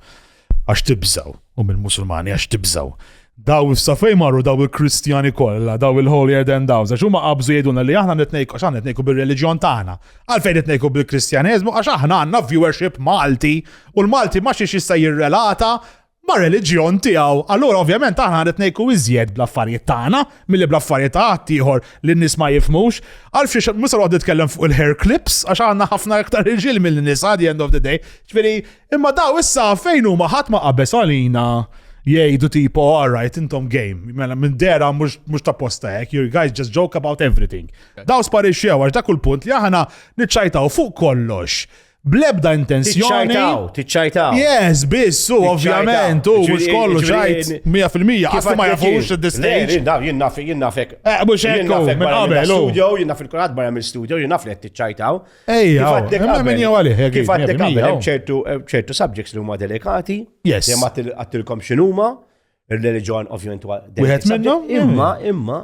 Għax tibżaw, u mill-Musulmani għax tibżaw. Daw il-safej marru daw il-Kristjani kollha, daw il-holier than daw, għax huma qabżu jgħidulna li aħna nitnejku, għax aħna nitnejku bil-reliġjon tagħna. Għalfejn nitnejku bil-Kristjaneżmu, għax aħna għandna viewership Malti, u l-Malti ma xiex jista' jirrelata ma' reliġjon tiegħu. Allura ovvjament aħna qed ngħiku iżjed bl-affarijiet tagħna milli bl-affarijiet ta' ħadd ieħor li n-nies ma jifmux. Għal fiex mhux se noqgħod nitkellem fuq il-hair clips għax għandna ħafna iktar irġiel mill-nisa the end of the day. Ġifieri, imma daw issa fejn huma ħadd ma qabeż għalina jgħidu tipo all right intom game. Mela minn dera mhux ta' posta hekk, you guys just joke about everything. Daw sparixxew għax dak il-punt li aħna niċċajtaw fuq kollox Blebda intenzjoni. Tiċċajtaw, tiċċajtaw. Yes, biss, u ovvjament, u mux kollu ċajt, 100%, għastu ma jafux id-distajt. Jien naf, jien nafek. Eh, mux ekku, minn qabel. Studio, jien naf il-kurat barra mill studio, jien naf li tiċċajtaw. Ejja, imma minn jew għalih, jek. Kif għaddek għabel, ċertu subjects li huma delikati. Yes. Jemma għattilkom xinuma, il-reliġjon ovvjament. Wieħed minnhom? Imma, imma,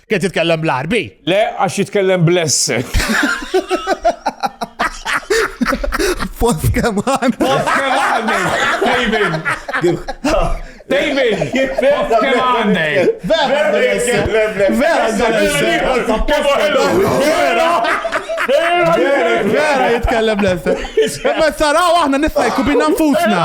Kien titkellem bl-Arbi? Le, għax jitkellem bless. Fost keman. Fost keman. Tejbin. Tejbin. Fost keman. Vera. Vera. Vera jitkellem l-essa. Ma saraw aħna nistajku bina nfusna.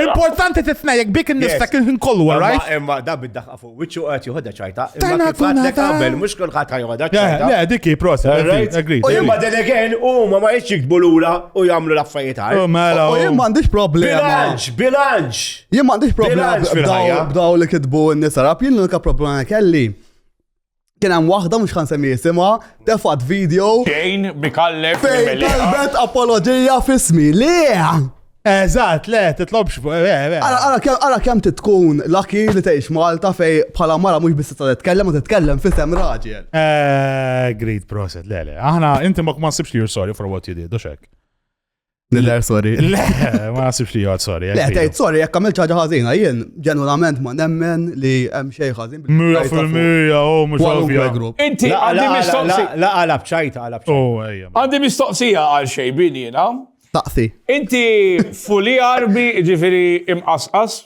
Importanti tisnajek bik n-nifsa kien kollu, right? Imma da bid-daħqa Wiċċu qed joħodha ċajta. Tajna tonata. Qabel mhux kulħadd ħajoħodha ċajta. Le, dik hi process. Agreed. U imma din again huma ma jitx jiktbu lura u jagħmlu l-affarijiet għal. Mela. U jien m'għandix problema. Bilanċ, bilanċ. Jien m'għandix problema b'daw li kitbu n-nisarab, jien l-unika problema kelli. Kien hemm waħda mhux ħan semmi jisimha, tefat video. Xejn bikallef. Fejn talbet apoloġija fismi. Le! Eżatt, le, titlobx fuq. Eh, eh, eh. Ara kemm titkun laki li tgħix Malta fej bħala mara mhux biss tista' titkellem u titkellem fisem raġel. Great proset, le, le. Aħna inti ma ma sibx li you're sorry for what you did, u xek. Nidher sorry. Le, ma nasibx li jgħod sorry. Le, tgħid sorry, jekk għamil ċaġa ħażina, jien ġenwalament ma nemmen li hemm xejn ħażin. Mija fil-mija, u oh, mhux għalfija. Inti għandi mistoqsija. La għalab ċajta, għalab ċajta. Oh, għandi mistoqsija għal xejn bin jiena. Taqsi. Inti fuli arbi ġifiri imqasqas?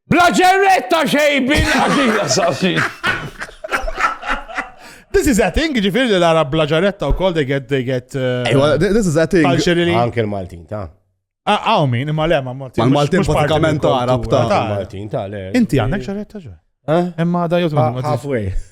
Bla ġerretta xejbin għadija safin. This is a thing, ġifir li l-Arab bla ġaretta u kol, they get, they get. Uh, Ejwa, this is a thing. Culturally. Anke l-Maltin, ta' ah, Għaw min, imma le, ma' Maltin. Ma' Maltin pratikament Arab ta' Maltin, ta' le. Inti għandek ġaretta ġo? Eh? Imma da jgħu Halfway.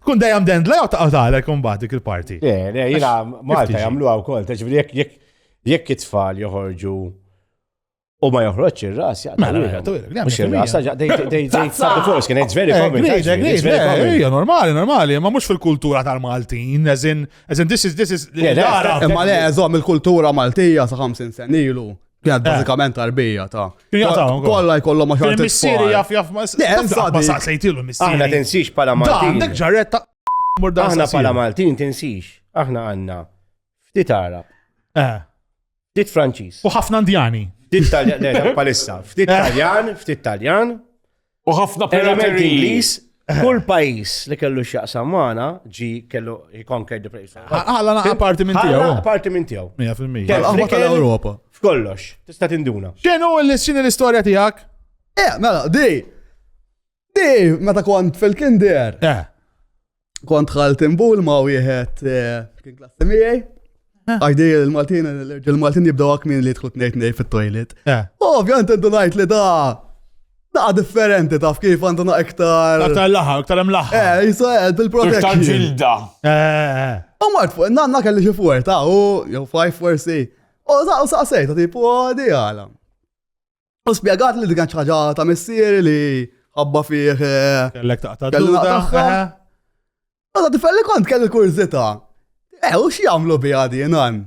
Tkun dejjem dendla jew taqgħu tagħlek imbagħad dik il-parti. Le, le, jiena Malta jagħmluha wkoll, taġbri jekk jekk jekk it-tfal joħorġu u ma joħroġ ir-ras jaqta'. Mela, mela, mela, mhux ir-ras, force kien it's very common. Hija normali, normali, ma mhux fil-kultura tal-Maltin, as in this is this is. Imma le, żomm il-kultura Maltija sa 50 sen ilu. Kienet eh. bażikament tarbija ta' kollha jkollhom ma xogħol. Missieri jaf jaf ma saqsejtilu missieri. Aħna tinsix bħala Maltin. Għandek ġarretta Aħna bħala Maltin tinsix. Aħna għandna ftit Arab. Eh. Ftit Franċiż. U ħafna Indjani. Ftit Taljan, palissa. Ftit eh. Taljan, ftit Taljan. U ħafna pirateriji. Kull pajis li kellu x'jaqsam magħna ġi kellu jikonker di pajis. Ħalla naqa' parti minn tiegħu. Ħalla parti minn tiegħu. 100%. Tal-qahwa tal-Ewropa. F'kollox, tista' tinduna. X'inhu l-x'inhi l-istorja tiegħek? Eh, mela, di. Di, meta kont fil-kinder. Eh. kont ħalt imbul ma' wieħed eh, kien klassi miegħi. Eh. Għajdi il-Maltin, il-Maltin jibdaw għak minn li tħut nejt nej fit-toilet. Eh. Ovvjant għandu najt li da. Da differenti taf kif għandu na iktar. Iktar laħa, iktar hemm laħa. Eh, jisa għed bil-protezzjoni. Iktar ġilda. Eh. U mart fuq, nanna kelli xi fuq ta' u jew five forsi. U da u saqsejta tipu għadi għala. U spjegat li digan ċaġa ta' missieri li ħabba fih. Eh, Kellek taqta' d-duda. Għada eh. tifel li kont kelli kurzita. Eh, u xie għamlu bi għadi nan?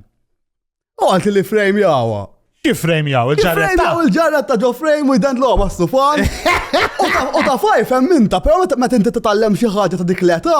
U għalti li frame jawa. Kif frame jaw, il-ġarret ta' il-ġarret ta' ġo frame u jdent loba s-sufan. U ta' fajf hemm minta, pero meta inti titgħallem xi ħaġa ta' dik l-età,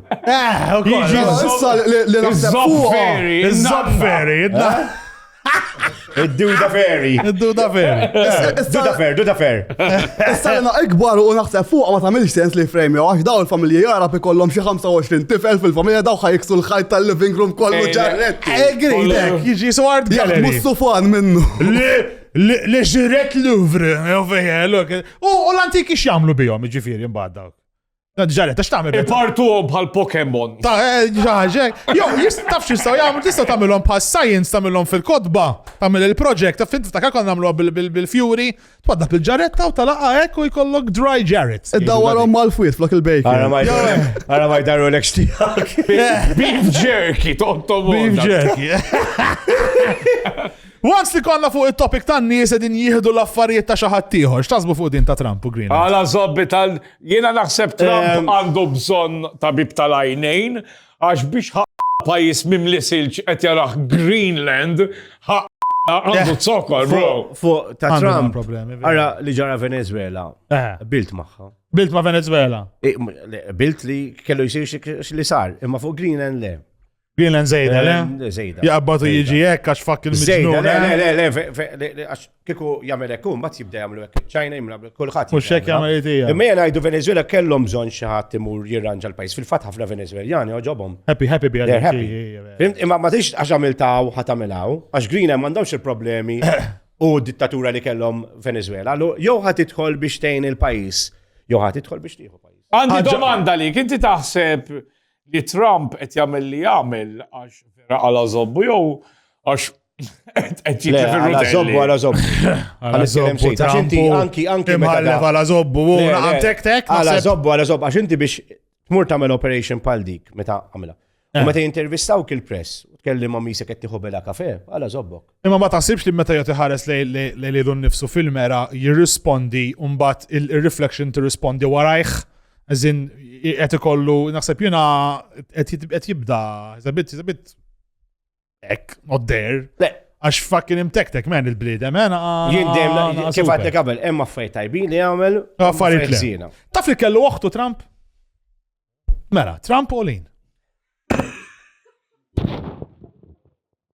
Eh, u Jiġi koll. issa li li naħseb fuqha. Iż-zofferi, Iż-zofferi, id-da. Id-duda ferry. Id-duda ferry. Duda ferry, duda ferry. Issa li na ikbar u naħseb fuqha ma tagħmilx sens li frame jew għax daw il-familji jarab ikollhom xi 25 tifel fil-familja daw ħajksu l-ħajt tal-living room kollu Ejja. ġarretti. Egridek, jiġi su art Jaħdmu gallery. s-sufan minnu. Le ġiret Louvre, jew fejja, look. U u l-antiki x'jagħmlu bihom, ġifieri mbagħad dawk. Dan ġaret, għax tagħmel. Ipartuhom bħal Pokemon. Ta' eh, ġaġek. Jo, jistafx jistaw jagħmlu tista' tagħmilhom bħal science tagħmilhom fil-kotba, tagħmel il-project, ta' fint ta' kakon nagħmlu bil-fjuri, twadda bil-ġaretta u talaqa hekk u jkollok dry ġaret. Iddawwarhom mal-fwiet flok il-bejk. Ara ma Ara ma jdaru l tiegħek. Eh. Beef jerky, tontom. Beef jerky. Once li konna fuq il-topic tan nies edin jihdu l-affarijiet ta' xaħat tiħor, x'tasbu fuq din ta' Trump u Green? Għala zobbi tal- Jiena naħseb Trump ehm, għandu bżonn tabib tal-għajnejn għax biex pajis mimli silġ qed jaraħ Greenland għandu eh, zokkor, bro. Fuq ta' Trump, għara li ġara Venezuela, eh. bilt maħħa. Bilt ma' Venezuela. Eh, bilt li kellu jisir li sar, imma fuq Greenland le. Greenland zejda, le? Eh, zejda. Jaqbatu jiġi hekk għax fakk il-mġnun. Le, eh? le, le, le, għax kiku jagħmel hekk bat jibda jagħmlu hekk. Ċajna jimla kulħadd. Mhux hekk jagħmel idija. Imma jena ngħidu Venezuela kellhom bżonn xi ħadd imur jirranġa l-pajjiż. Fil-fatt ħafna Venezueljani oġobhom. Happy, happy bi Imma ma tix għax għamiltaw ħadd għamilhaw, għax Greenland m'għandhomx il-problemi u dittatura li kellhom Venezuela. Jew ħadd idħol biex tgħin il-pajjiż, jew ħadd idħol biex tieħu pajjiż. Għandi domanda li, kinti taħseb li Trump qed jagħmel li jagħmel għax vera għala żobbu jew għax qed jikli fil-rutelli. Għala żobbu, għala żobbu. Għala żobbu, għax inti anki anki mħallef għala żobbu, u għantek tek. Għala żobbu, għala żobbu, għax inti biex tmur tagħmel operation pal dik meta għamilha. U eh. meta jintervistaw kil-press, tkellim ma' misek qed tieħu bela kafe, għala żobbok. Imma ma taħsibx li meta jgħat iħares lejn lilu nnifsu fil-mera jirrispondi u mbagħad ir-reflection tirrispondi warajh. Eżin, qed ikollu, naħseb jiena qed jibda, zabit, zabit, ek, not there. Għax fucking imtektek men il-blidem, men. Jindem, kif għatte kabel, emma fej tajbin li għamel. Għaffariet li. Taf li kellu uħtu Trump? Mela, Trump u lin.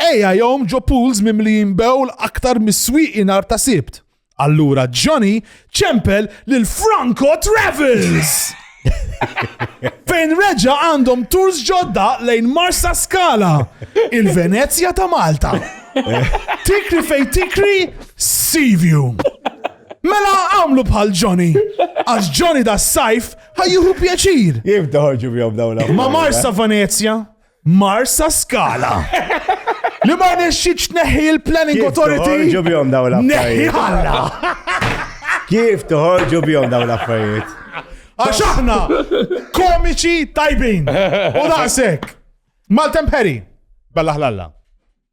Ejja jom ġo pools mimlijin bewl aktar mis-swieqi nhar ta' Sibt. Allura Johnny ċempel lil Franco Travels! Fejn reġa għandhom tours ġodda lejn Marsa Skala, il-Venezja ta' Malta. Tikri fej tikri, Sivju. Mela għamlu bħal Johnny, għax Johnny da sajf ħajjuhu pjaċir. Jibda ħorġu bjom dawla. Ma Marsa Venezja, Marsa Skala. Li ma nexxitx neħi il-Planning Authority. Kif toħorġu bjom daw l-affarijiet? Kif toħorġu bjom daw l-affarijiet? Għax aħna komiċi tajbin. U daqsek. Maltem Perry. Bella ħlalla.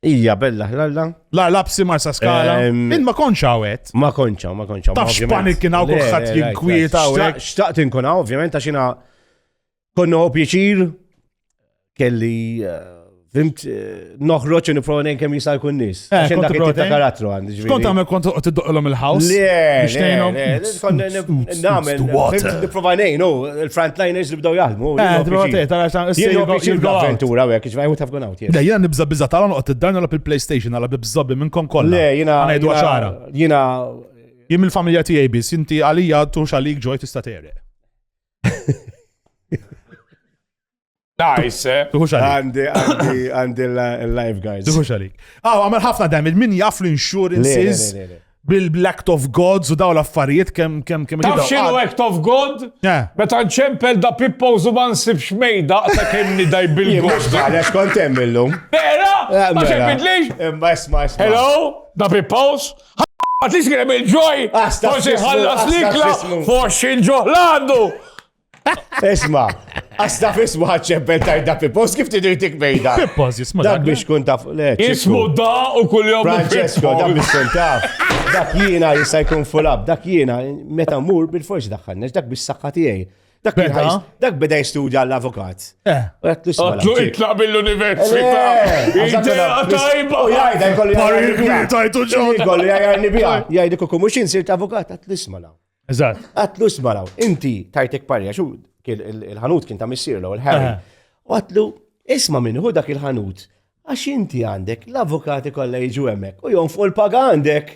Ija, bella ħlalla. La lapsi marsa skala. Min ma konċa għet. Ma konċa, ma konċa. Taf xpanik kien għaw kuħat jinkwieta għek. Xtaqt inkun għaw, ovvjament, għaxina. Konna u pjaċir, kelli eh, Fimt, eh, noħroċ u niprofa nejn kemm jista' jkun nies. Eh, Għaxen dak ta' karattru għandi ġviri. Kont għamel kont tiddoqilhom il-house. Nagħmel nipprova nejn, u l-frontliners li bdew jaħdmu. Avventura hekk ġviri u tafgun out. Le, jiena nibża biża tagħhom noqgħod id-darna la bil-PlayStation għala bibżobbi minnkom kollha. Le, jiena ngħidu għaxara. Jiena jien mill-familja tiegħi biss, inti għalija tux għalik ġoj tista' tereq. Nice, eh? Tuħux għandi, għandi, għandi l-lifeguards. Tuħux għalik. Aw, għamil ħafna damage, min jaf l-insurances bil-act of gods u daw l-affarijiet kem kem kem. Taf xinu act of god? Meta nċempel da pippo u zuban sibx mejda ta' kem nidaj bil-god. Għalex kontem illum. Vera? Ma xempidlix? Imma isma isma. Hello? Da pippo? Għat li xkrem il-ġoj, forsi ħallas l-ikla, forsi ġoħlandu. Isma, għasta fismu ħadċempel tajda Pippos, kif tidur tik bejda? Pippos, jisma. Dak biex kun taf, le. Ismu da u kull jom. Francesco, dak biex kun taf. Dak jiena jista' jkun fulab, dak jiena meta mur bil-forsi daħħannex, dak biex saħħa tiegħi. Dak beda, dak beda jistudja l-avukat. Eh. Għatlu itlaq mill-università. Tajba. U jgħajda jkolli jgħajda. Tajtu ġon. Jkolli jgħajda bija. Jgħajda kukum mux insirt avukat. Għatlu ismalaw. Eżat. Għatlu ismalaw. Inti tajtek parja xu il-ħanut kien ta' missir l ħarri eh. U għatlu isma minn hu dak il-ħanut. Għax inti għandek l-avukati kollha jiġu hemmhekk u jon fuq il-paga għandek.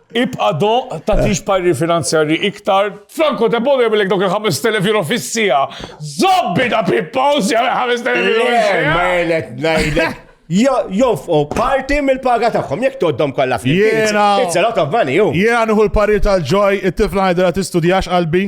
Ibqa' doqq, tagħtix parir finanzjarji iktar. Franco Debono jagħmilek dawk il-5,000 euro fis-siegħa. Żomm bina Pippo House jagħmel 5,000 euro fis-siegħa. Ma qed ngħidlek. Jonfqu parti mill-paga tagħhom jekk toddhom kollha flimkien. It's a lot of money hu. Jiena nieħu l-parir tal-Ġoj, it-tifla ngħidilha tistudjax qalbi.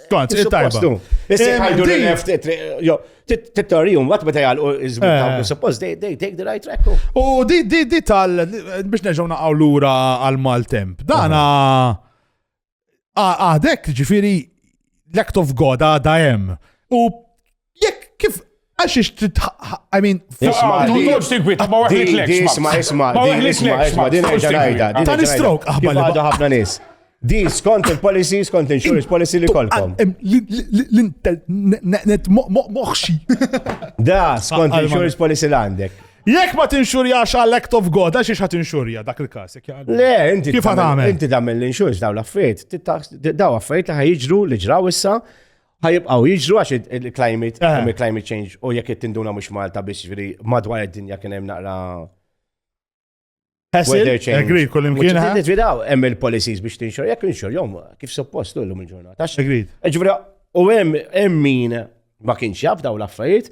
Kont, tajba. Issa jħajdu li left, t-torrijum, għat meta jgħalqu iżbitaw, eh. suppose they take the right track. U di, di, di tal, biex neġaw naqaw l-ura għal-maltemp. Dana, għadek ġifiri, l-act of God għada jem. U Jekk kif għax ix trid I mean, isma' tkunx tinkwita ma weħlik lek. Isma' isma' ma weħlik lek. Isma' din ħaġa ngħidha. Ta' nistrok aħbar. Għadu ħafna nies. Di skont il-policy, skont insurance policy li kolkom. L-internet moħxi. Da, skont insurance policy l-għandek. Jekk ma tinxurjax għal act of God, għax ħat inxurja dak il-kas. Le, inti. Kif għamel? Inti tagħmel l-inxurx daw l-affarijiet. Daw affarijiet li ħajġru li ġraw issa ħajibqaw jiġru għax il-climate, eh. il-climate change, u jekk it-tinduna mux Malta biex ġviri madwar id-dinja kien hemm naqra. Weather change. Agreed, kull imkien. Titvidaw, hemm il-policies biex tinxor, jekk inxor, jom, kif suppost l lum il-ġurnata. Agreed. Eh, ġviri, u hemm min ma kienx jaf daw l-affarijiet,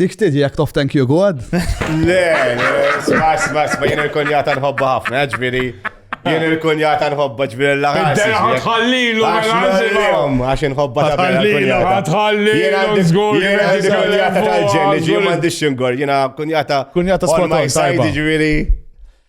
Dik tiġi jek tof thank you God? Le, sma, sma, sma, jien il-kunjata nħobba ħafna, ġviri. Jien il-kunjata nħobba ġviri l-laħas. Tħallilu, għax nħobba ta' kunjata. Tħallilu, jien għandi kunjata tal-ġenni, ġviri għandi xingor, jien kunjata. Kunjata skonta, ġviri.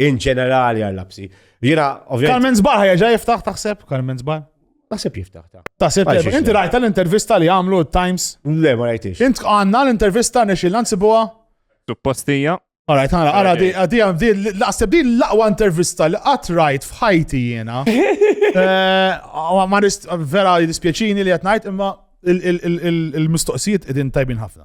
In ġenerali għal-lapsi. Jina, ovvijament. Carmen Zbar ħajja jiftaħ taħseb, Carmen Zbar. Taħseb jiftaħ ta. Taħseb jiftaħ. Inti rajta l-intervista li għamlu Times? Le, ma rajtix. Int għanna l-intervista nexil nansibuha? Suppostija. Alright, għara, għara, di, di, di, laqseb di l-laqwa intervista li għat rajt fħajti jena. Eh, ma rist, vera dispieċini li għat najt, imma il-mistoqsijiet edin tajbin ħafna.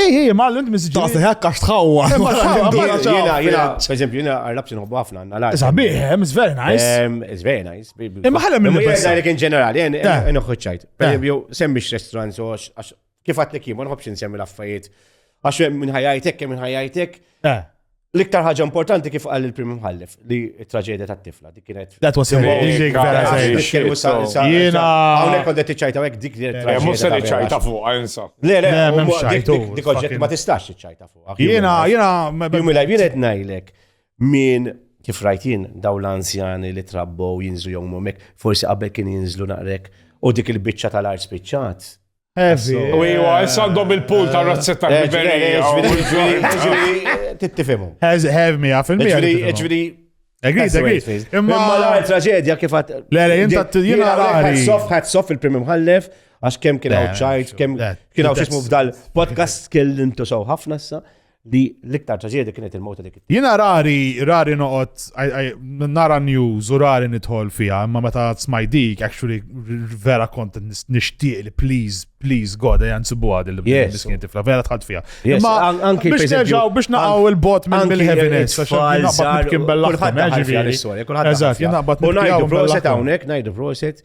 Ej, ej, ma l-int mizġi. Ta' seħa kax tħawwa. Jena, jena, per eżempju, jena għarrabsi nħobbu ħafna għanna l-għar. Sabiħ, hemm, it's very nice. It's very nice. Imma ħalem minn l-għar. Jena, in ġenerali, jena, nħuċċajt. Per eżempju, semmix restaurant, so, kif għatlek jien, ma nħobx nsemmi l-affarijiet. Għax minn ħajajtek, minn ħajajtek. L-iktar ħaġa importanti kif qal il-Prim Mħallef li t-traġedja tat-tifla dik kienet. That was amazing, vera Jiena. Hawnhekk kont qed tiċċajta hekk dik li traġedja. Mhux se niċċajta fuq, insa. Le, le, m'hemmx ċajtu. Dik oġġett ma tistax tiċċajta fuq. Jiena, jiena. Jumi lajb jiena qed ngħidlek min kif rajt jien daw l-anzjani li trabbow jinżlu jew hekk, forsi qabel kien jinżlu naqrek u dik il-biċċa tal-art spiċċat. Heavy. U jwa, issa għandhom il-pool ta' razzetta eh, ġiverija. Tittifimu. Heavy mija fil-mija. Ġviri, Agreed, agreed. Imma la traġedja kif għat. Le, le, jinta t-tijina għari. Għat soff il-primi mħallef, għax kem kien għaw ċajt, kem kien għaw xismu f'dal podcast, kellimtu saw ħafna issa. li l-iktar traġedja kienet il-mowta dik. Jiena rari, rari noqgħod nara news u rari nidħol fiha, imma meta smaj dik, actually vera kont nixtieq li please, please God, ejja nsibuha din l-miskin tifla, vera tħadd fiha. Imma anki biex nerġgħu biex naqgħu il-bot mill-heaviness, għax naqbad kien bella ħafna. Eżatt, jien naqbad. U ngħidu proset hawnhekk, ngħidu proset.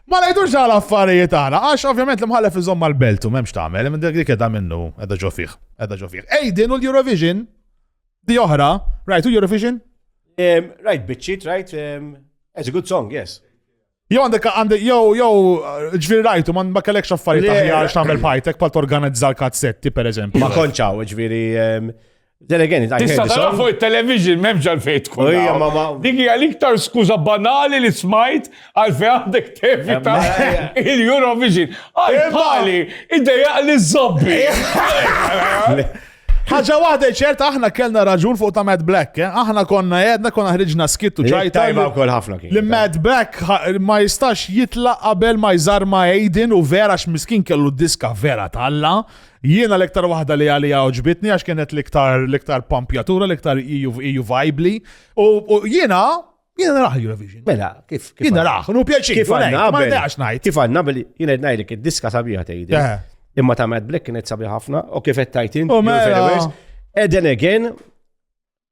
Ma ngħidux għal affarijiet aħna, għax ovvjament l-imħallef iżomm mal-belt u m'hemmx tagħmel, imma dik qiegħda minnu, qiegħda ġo fih, qiegħda ġo fih. Ej din u l-Eurovision, di oħra, rajtu Eurovision? Rajt biċċit, rajt, it's a good song, yes. Jow għandek għandek jow jow ġviri rajtu man ma kellekx affarijiet aħjar x'tagħmel bħajtek pal torganizza l-kazzetti pereżempju. Ma konċaw, ġviri Then again, I Tista' tara fuq it-television m'hemmx għalfejn tkun. Dik hija l-iktar skuża banali li smajt għalfejn għandek tevita il-Eurovision. Għalfali, id-dejaq li zobbi. ħaġa waħda ċerta aħna kellna raġun fuq ta' Mad Black, eh? aħna konna jedna konna ħriġna skittu ċajta. Tajba wkoll ħafna kien. Li Mad Black ma jistax jitlaq qabel ma jżarma Aiden u vera x'miskin kellu diska vera talla. Jiena l-iktar waħda li għalija oġbitni għax kienet l-iktar l-iktar pampjatura, l-iktar iju vibli. U jiena jiena naraħ Eurovision. Mela, kif kif. Jiena naraħ, nu pjaċi. Kif għanna ma naqax ngħid. Kif għanna bil jiena ngħidlek id-diska sabiħa tgħid. Eh. Imma ta' Mad Black kienet sabiħa ħafna u kif qed tajtin. U mela. Eden again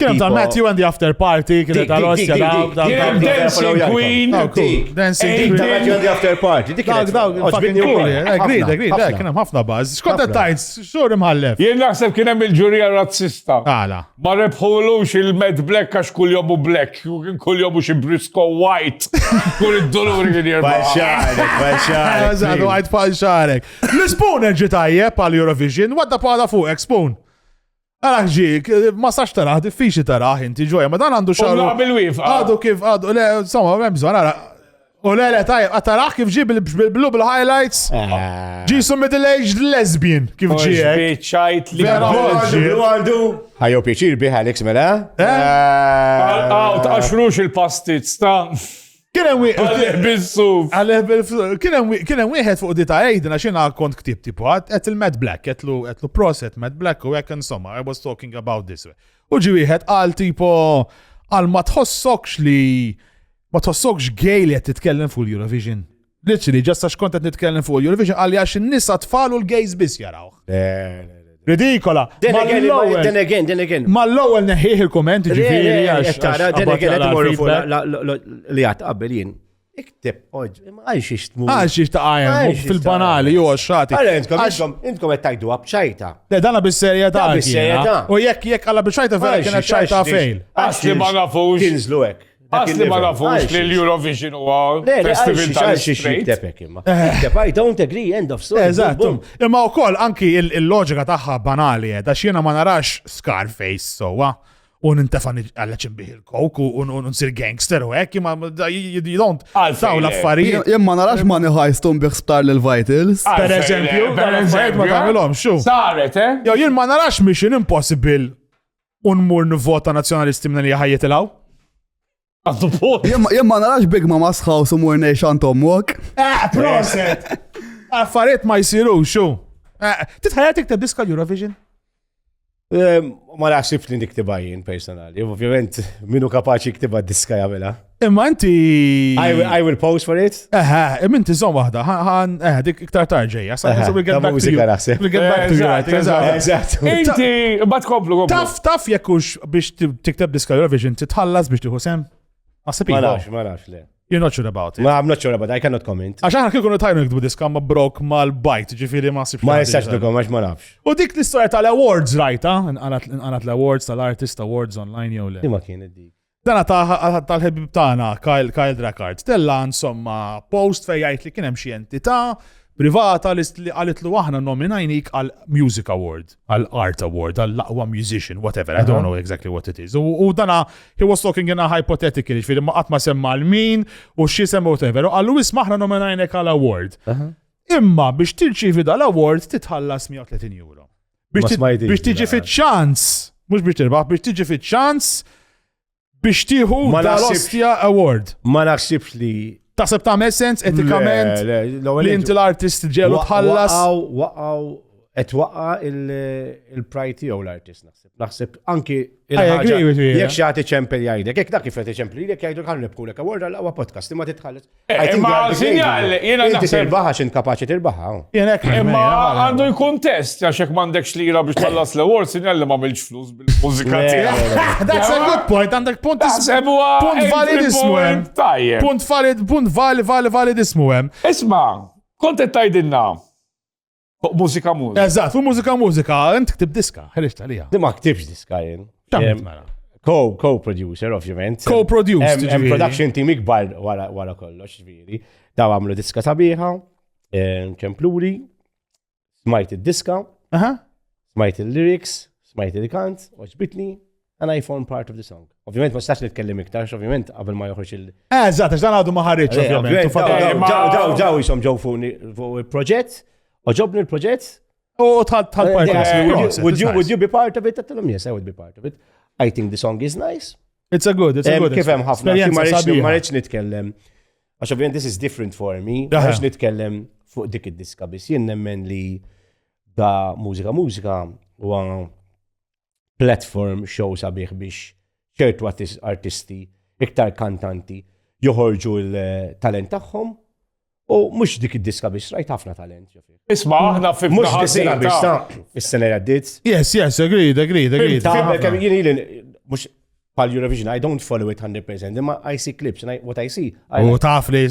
Kien hemm tal-Matthew and the After Party, kien hemm tal-Osja, Kien hemm Dancing Queen, Dancing Queen, Matthew and the After Party, dik kien dawk fucking cool, agreed, eh, agreed, eh, kien hemm ħafna baż. Skont tajts, xhur imħallef. Jien naħseb kien hemm il-ġurija razzista. Għala. Ma rebħulux il-Mad Black għax kull jomu black, kien kull jomu xi Brisco White, kull id-doluri kien jirba. Falxarek, falxarek. Eżatt, għajt falxarek. L-Spoon ġi tajjeb għal Eurovision, wadda pala fuq, Spoon. Għara ġik, ma sax taraħ, diffiċi taraħ inti ġoja, ma dan għandu xaru. Għadu kif, għadu, le, insomma, ma bżon, għara. U le, le, tajb, għataraħ kif ġib il-blu bil-highlights. Ah. Ġisu middle-aged lesbian, kif ġiek. Bieċajt li għadu. Għajo pieċir biħa l-iks mela. Għaw, eh? eh, ta' xrux il-pastizz ta' Kien hemm wieħed. Għalih bis-suf. Għalih bil-suf. Kien hemm wieħed fuq dita għajd għax jiena kont ktib tipo qed il-Mad Black, qed lu qed lu proset Mad Black u hekk insomma I was talking about this. U ġi wieħed qal tipo għal ma tħossokx li ma tħossokx gay li qed titkellem fuq l-Eurovision. Literally, ġast għax kont qed nitkellem fuq il-Eurovision għalli għax in-nisa tfal u l-gays biss jaraw. Ridikola. Then again, Mal-ewwel- then again, then again. Mal-ewwel neħħieħ il-kumment ġifieri għax. Tara, għax then qabad again, jaqla qed imorru fuq feedback. la- la- la- li għat qabel jien. Ikteb, oġ, ma għalx ixtmu. Għax xiex ta' għajem, Għax xiex fil-banali, ta' ju għaxħati. Għara, intkom, intkom, intkom qed tajdu għabċajta. Le, dana bis-serjetà. Da bis-serjetà. kiena. U jekk jekk għalla biex ċajta vera kienet ċajta fejl. Għax li ma nafux. Tinżlu hekk. Għas li ma nafux li l-Eurovision huwa festival tal-street. Tepek imma. Tepek, I don't agree, end of story. Eżattu. Imma u koll, anki il-loġika taħħa banali, eh, da xiena ma narax Scarface sowa u nintefa għalleċ imbiħ il-kok u nsir gangster u hekk ma jidont taw l-affarijiet. Jemma narax ma niħajstu mbiħ sptar l-Vitals. Per eżempju, per eżempju, ma tamilom, xu. Saret, eh? Jo, jien ma narax mission impossible un mur nivvota nazzjonalisti minn li ħajjet il-għaw. Jem ma narax big ma masħaw su mur nejx għantom mwok. Eh, proset! Affariet ma jisiru, xu. Eh, Titħajja tikta diska Eurovision? Eh, ma naħsibx li niktibajin personali. Ovvjament, minu kapaċi ktiba diska jamela. Imma inti. I will pose for it. Eħe, imma inti zon wahda, ħan, eħe, dik iktar tarġeja. Inti, bat komplu, Taf, taf jekkux biex tikteb diska Eurovision, titħallas biex tiħu sem? Ma sepik. Ma nafx, ma nafx, le. You're not sure about it. Ma, I'm not sure about it, I cannot comment. Għax aħna kikunu tajnu nikdbu diska ma brok ma l-bajt, ġifiri ma sibx. Ma jistax dukom, għax ma nafx. U dik l-istoria tal-awards rajta, nqalat l-awards tal-artist awards online jew le. Ima kien id-dik. Dana tal-ħebib tagħna Kyle Kyle Drakkard tella insomma post fejn jgħid li kien hemm xi entità privata li għalitlu aħna nominajnik għal Music Award, għal Art Award, għal laqwa musician, whatever, I don't know exactly what it is. U dana, he was talking in a hypothetical, ġifiri ma għatma semma l-min u xie semma whatever. U għallu isma aħna nominajnek għal award. Imma biex tirċivi dal-award titħallas 130 euro. Biex tiġi fiċ-ċans, mhux biex tirbaħ, biex tiġi fiċ-ċans biex tieħu l-Ostia Award. Ma naħsibx li Taħseb ta' sens etikament li inti l-artist ġelu tħallas. Waqaw, et waqa il-praj tiegħu l-artist naħseb. Naħseb anki il-ħagġa. Jek xaħti ċempel jgħidek, jek dak kif ċempel jgħidek jgħidu ħan nibkulek award għal-għawa podcast, imma titħallas. Imma sinjal, jena naħseb. Inti tirbaħa xin kapaċi tirbaħa. Oh. Jena imma għandu jkun test, għax jek mandekx li jira biex tħallas l-award, sinjal li ma milġ flus bil-mużika tiegħek. That's a good point, għandek punt punt valid ismu hemm. Punt valid, punt valid, valid, valid ismu hemm. Isma, kontet tajdinna. Fuq mużika mużika. Eżatt, fuq mużika mużika, int ktib diska, ħriġt għalija. Di ma ktibx diska jien. Tamt mela. Co-producer, ovvjament. Co-producer. Hemm production team ikbar wara kollox, ġviri. Daw għamlu diska sabiħa, ċempluri, smajt id-diska, smajt il-lyrics, smajt il-kant, oġbitni, And I form part of the song. Ovvijament, ma stax nitkellem iktar, ovvijament, qabel ma joħroġ il- Eh, eżatt, għax dan għadu ma ħarriġ, eh, ovvijament. Ġaw, ġaw, ġaw, jisom ġaw fuq il-proġett, oġobni il-proġett. U tħad tħad part eh, Would you, would you be part of it? Għattilom, yes, I would be part of it. I think the song is nice. It's a good, it's a eh, good. Kif hemm ħafna, ma rridx nitkellem. Għax ovvijament, this is different for me. Ma rridx nitkellem fuq dik id-diska, bis jien nemmen li da mużika mużika u platform show sabiħ biex ċertu artisti, iktar kantanti, joħorġu l-talent tagħhom u mhux dik id-diska biex rajt ħafna talent. Isma' aħna fi mhux diska biex ta' is-sena għaddiet. Yes, yes, agreed, agreed, agreed. Mhux pal Eurovision, I don't follow it 100%, imma I see clips, and I, what I see. I U taf li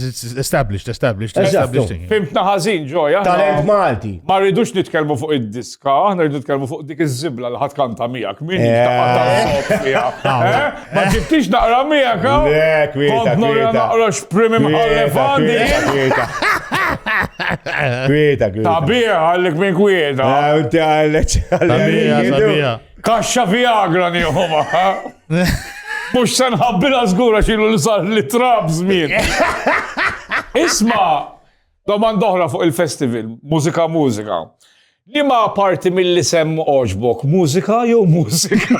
established, established, established. Fimtna ħażin ġoja. Talent Malti. Ma rridux nitkellmu fuq id-diska, aħna rridu nitkellmu fuq dik iż-żibla li ħadd kanta miegħek. Min eh. eh? Ma ġibtix naqra miegħek. Kont nora naqra x'prim imħallef għandi. Kwieta, kwieta. Tabija għallik minn kwieta. Għallik għallik. Tabija, tabija. Kaxxa Viagra nieħu maħħa. Mux sen ħabbila zgura xilu li sar li trab zmin. Isma, domanda oħra fuq il-festival, mużika mużika. Li ma parti mill-li sem oġbok, mużika jew mużika?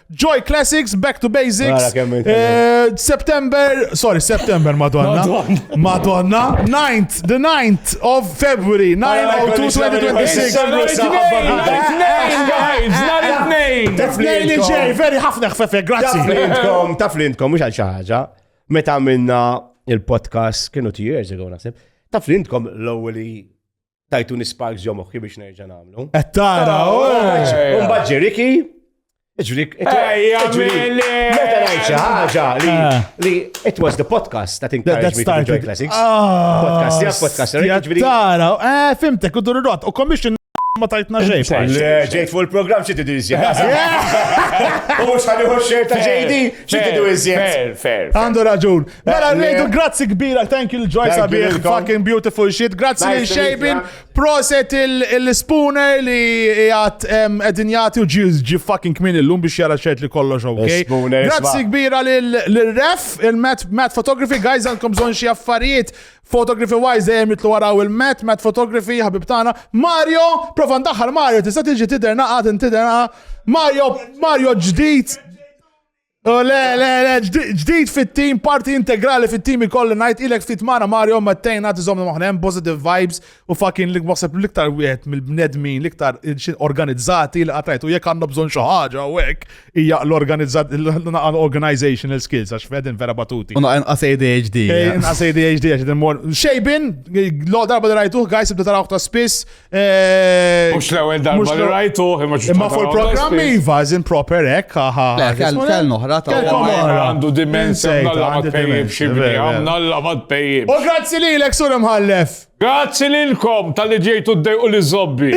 Joy Classics, Back to Basics. Eh, September, sorry, September, Madonna. Madonna. 9th, the 9th of February, 9 2026. Tnejn li ġej, veri ħafna xfefe, grazzi. Taflintkom, taflintkom, mux għal xaħġa. Meta minna il-podcast, kienu two years ago, nasib. Taflintkom l-ewweli tajtu nisparks ġo moħħi biex nerġa' nagħmlu. Qed tara, u mbagħad Riki, Ġrik, meta ngħid xi ħaġa li ah. it was the podcast that encouraged me to enjoy classics. Ah. Podcast jak podcast ġifieri. Tara, eh fimtek u dur rot u commission ma tajtna xejn. Ġejt fuq il-programm xi tidu iżjed. U mhux ħalli xejn ta' ġejdi xi tidu iżjed. Fair, fair. Għandu raġun. Mela ngħidu grazzi kbira, thank you l-ġoj sabiħ, fucking beautiful shit. Grazzi lil Xejbin, proset il-spooner li jgħat qegħdin jagħti u ġi fucking kmin illum biex jara xejt li kollox ok. Grazzi kbira lil ref il-Matt Photography, guys għandkom bżonn xi affarijiet Photography wise dejjem jitlu waraw il-Met, Met Photography, ħabib tagħna. Mario, prova ndaħħal Mario, tista' tiġi tidher naqgħad intidher Mario, Mario ġdid Oh, le, le, le, ġdid fit-team, parti integrali fit-team ikolli najt ilek fit mara Mario ma tejna tizom maħnem positive vibes u fucking li wasab liktar wieħed mill-bnedmin liktar organizzati li għatajtu jek għanna bżon xaħġa u hekk hija l-organizational skills għax fedin vera batuti. Unna inqas ADHD. Inqas ADHD għax din mor. Xejbin, lo darba li rajtuh guys ibda tarawh ta' spiss, Eh, mux l-ewel darba li rajtu, imma ċu. Imma fuq il-programm Iva, zin proper ek, ħaħa. Kell noħra ta' għandu dimensjon nalla ma tpejjib xibni, nalla ma tpejjib. U grazzi li l-ek sur imħallef. Grazzi li l-kom tal-li ġejtu d-dej u li zobbi.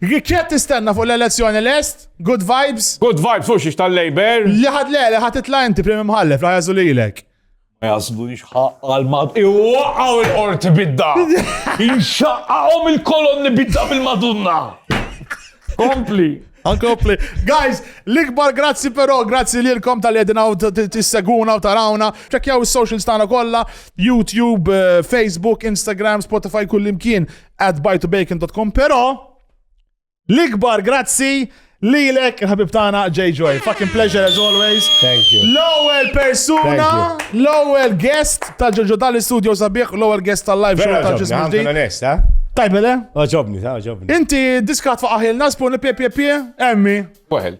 Kjat tistenna fuq l-elezzjoni l-est? Good vibes? Good vibes, u xiex tal-Labor? Li ħad le, li ħad titla inti prim imħallef, la jazu li l-ek. Ma jasbunix ħaqqa l-mad. Iwaqqaw il-qorti bidda! Inxaqqaqom il-kolonni bidda bil-madunna! Kompli! Ankompli. Guys, l-ikbar grazzi però, grazzi li l-kom tal-edina u t-seguna u tarawna. Ċekjaw il-socials tana kolla, YouTube, eh, Facebook, Instagram, Spotify, kullimkien at bytobacon.com, pero L-ikbar grazzi lilek il-ħabib tagħna J Joy. Fucking pleasure as always. Thank you. L-ewwel persuna, l-ewwel guest ta' Ġoġo Dali Studio sabiħ, l-ewwel guest tal-live show ta' ġismu ġdid. Eh? Tajbele? Oġobni, ta' oġobni. Inti diskat faqaħilna spun pie pie pie, emmi. Waħel.